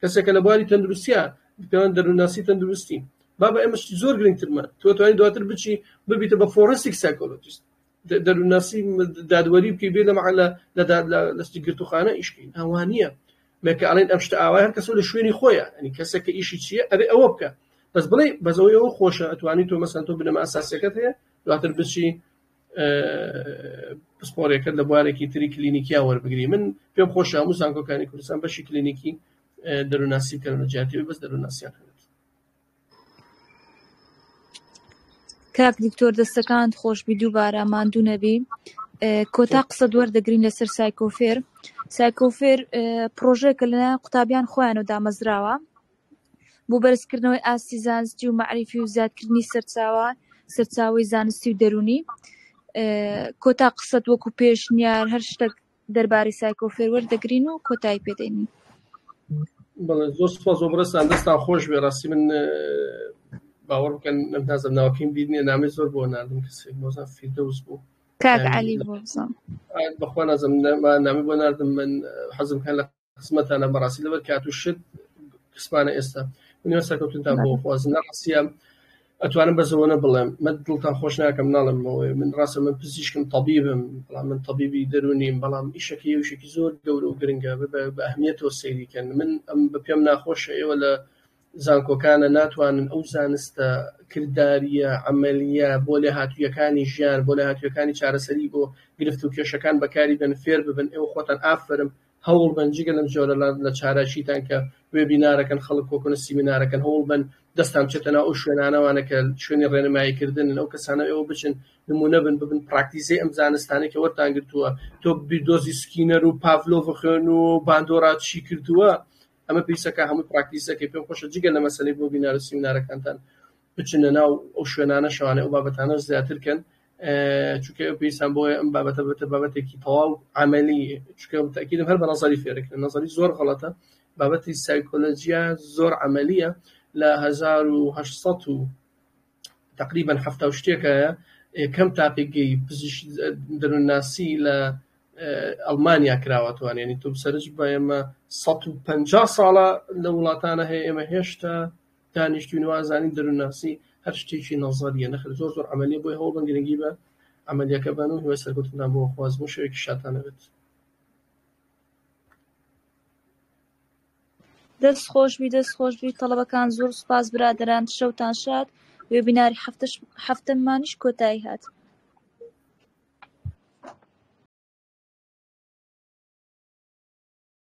کەسێکە لە بواری تەندروستیا پێوان دەروونناسی تەندروستی بابە ئێمەش زۆر گرنگترمان تۆ توانین دواتر بچی ببیتە بە فۆرنسیک سایکۆلۆجیست دەروونناسی دادوەری بکەی بێ لەمە لە لەستی گرتوخانە ئیشکەین ئەوانە مێکە ئەڵێن ئەم شتە ئاوای هەر کەسە لە شوێنی خۆیان ئەنی کەسێکە ئیشی چییە ئەبێ ئەوە بکە بەس بڵێ بەزەوەی ئەوە خۆشە ئەتوانی تۆ مەسەن تۆ بنەما ئەساسەکەت هەیە دواتر بچی پسپۆڕیەکەت لە بوارێکی تری کلینیکیا وەربگری من پێم خۆش هەموو زانکۆکانی کوردستان بەشی کلینیکی دەروناسی بکەن لە جیاتیوی بەس دەروناسیان هەن کاک دکتۆر دەستەکان خۆشببی دووبارە ماندوو نەبی کۆتا قسە دوەر دەگرین لەسەر سایکۆفێر سایکۆفێر پرۆژێکە لە قوتابیان خۆیان و دامەزراوە بۆ بەرزکردنەوەی ئاستی زانستی و مەعریفی و زیادکردنی سەرچاوە سەرچاوەی زانستی و دەروونی کۆتا قسەت وەکو پێشنیار هەر شتێک دەربارەی سایکۆفێر وەردەگرین و کۆتایی پێدەین بەڵێ زۆر سپاس بۆ بڕستان دەستان خۆش بێ ڕاستی من باوەڕ بکەن نەمتازم ناوکیم بیرنیە نامی زۆر بۆ نردم کەسێک مۆزان فیردەوز بوو کاک علی بۆزم بەخوا نازم نامی بۆ نردم من حەزم کە لە خزمەتانە بەڕاستی لەبەر کات و شت کسمانە ئێستا منیوە سەرکەوتنتان بۆ خوازم نەڕاستە ئەتوانم بەزەوەە بڵێم من دڵتان خۆش ناکەم ناڵم بەوەی من ڕاستە من پزیشکم طبیبم بەڵام من طبیبی دەرونیم بەڵام ئیشەکە یوشێکی زۆر گەورە و گرنگە بە ئەهمیەتەوە سەیریکەن من ئەم بە پێم ناخۆشە ئێوە لە زانکۆکانە ناتوانن ئەو زانستە کردداریە ئەمەلیە بۆ لێ هاتوویەکانی ژیان بۆ لە هاتوویەکانی چارەسەری بۆ گرفت و کێشەکان بەکاری بن فێر ببن ئێوە خۆتان ئافرم هەوڵ بەن جگە لەم جۆرە لە چالاکیتان کە وێبینارەکەن خەڵک کۆکن سیمینارەکەن هەوڵ بەن دەستان بچێتە ناو ئەو شوێنانەوانە کە شوێنی ڕێنمایی کردنن ئەو کەسانە ئێوە بچن نمونە بن ببن پراکتیزەی ئەم زانستانەی کە وەرتان گرتووە تۆ بیردۆزی سکینەر و پاڤلۆڤ خوێن و باندۆرا چی کردووە ئەمە پێویستەکە هەموو پراکتیزەکەی پێم خۆشە جگە لە مەسەلەی بۆ بینار و سیمینارەکانتان بچنە ناو ئەو شوێنانە شەوانە ئەو بابەتانە زیاتر کەن چونکە پێویستان بۆیە ئەم بابەتە بەتە بابەتێکی تەواو عملی چونکە تاکیدم هەر بە نظری فێرەکرد نظری زۆر غڵەتە بابەتی سایکۆلۆژیا زۆر عملیە لە 1970 و تقریبا هەفتا شتێکایە کەم تاقیگەی پزیشک دەروونناسی لە ئەڵمانیا کراوەتوان ینی تۆ سەرج بە ئێمە 150 ساڵە لە وڵاتانە هەیە ئێمە هێشتا دانیشتوین وازانین دەرونناسی هەر شتێکی نەزەریە نەخێر زۆر زۆر عەمەلیە بۆیە هەوڵ بەن گرنگی بە عەمەلیەکە بەن و هیوای سەرکەوتنتان بۆ خوازم و شەوێکی شادتان نەبێت. دەست خۆشبی دەست خۆشبی تەڵەبەکان زۆر سپاس برادران شەوتان شاد وێبیناری هەفتەمانیش کۆتایی هات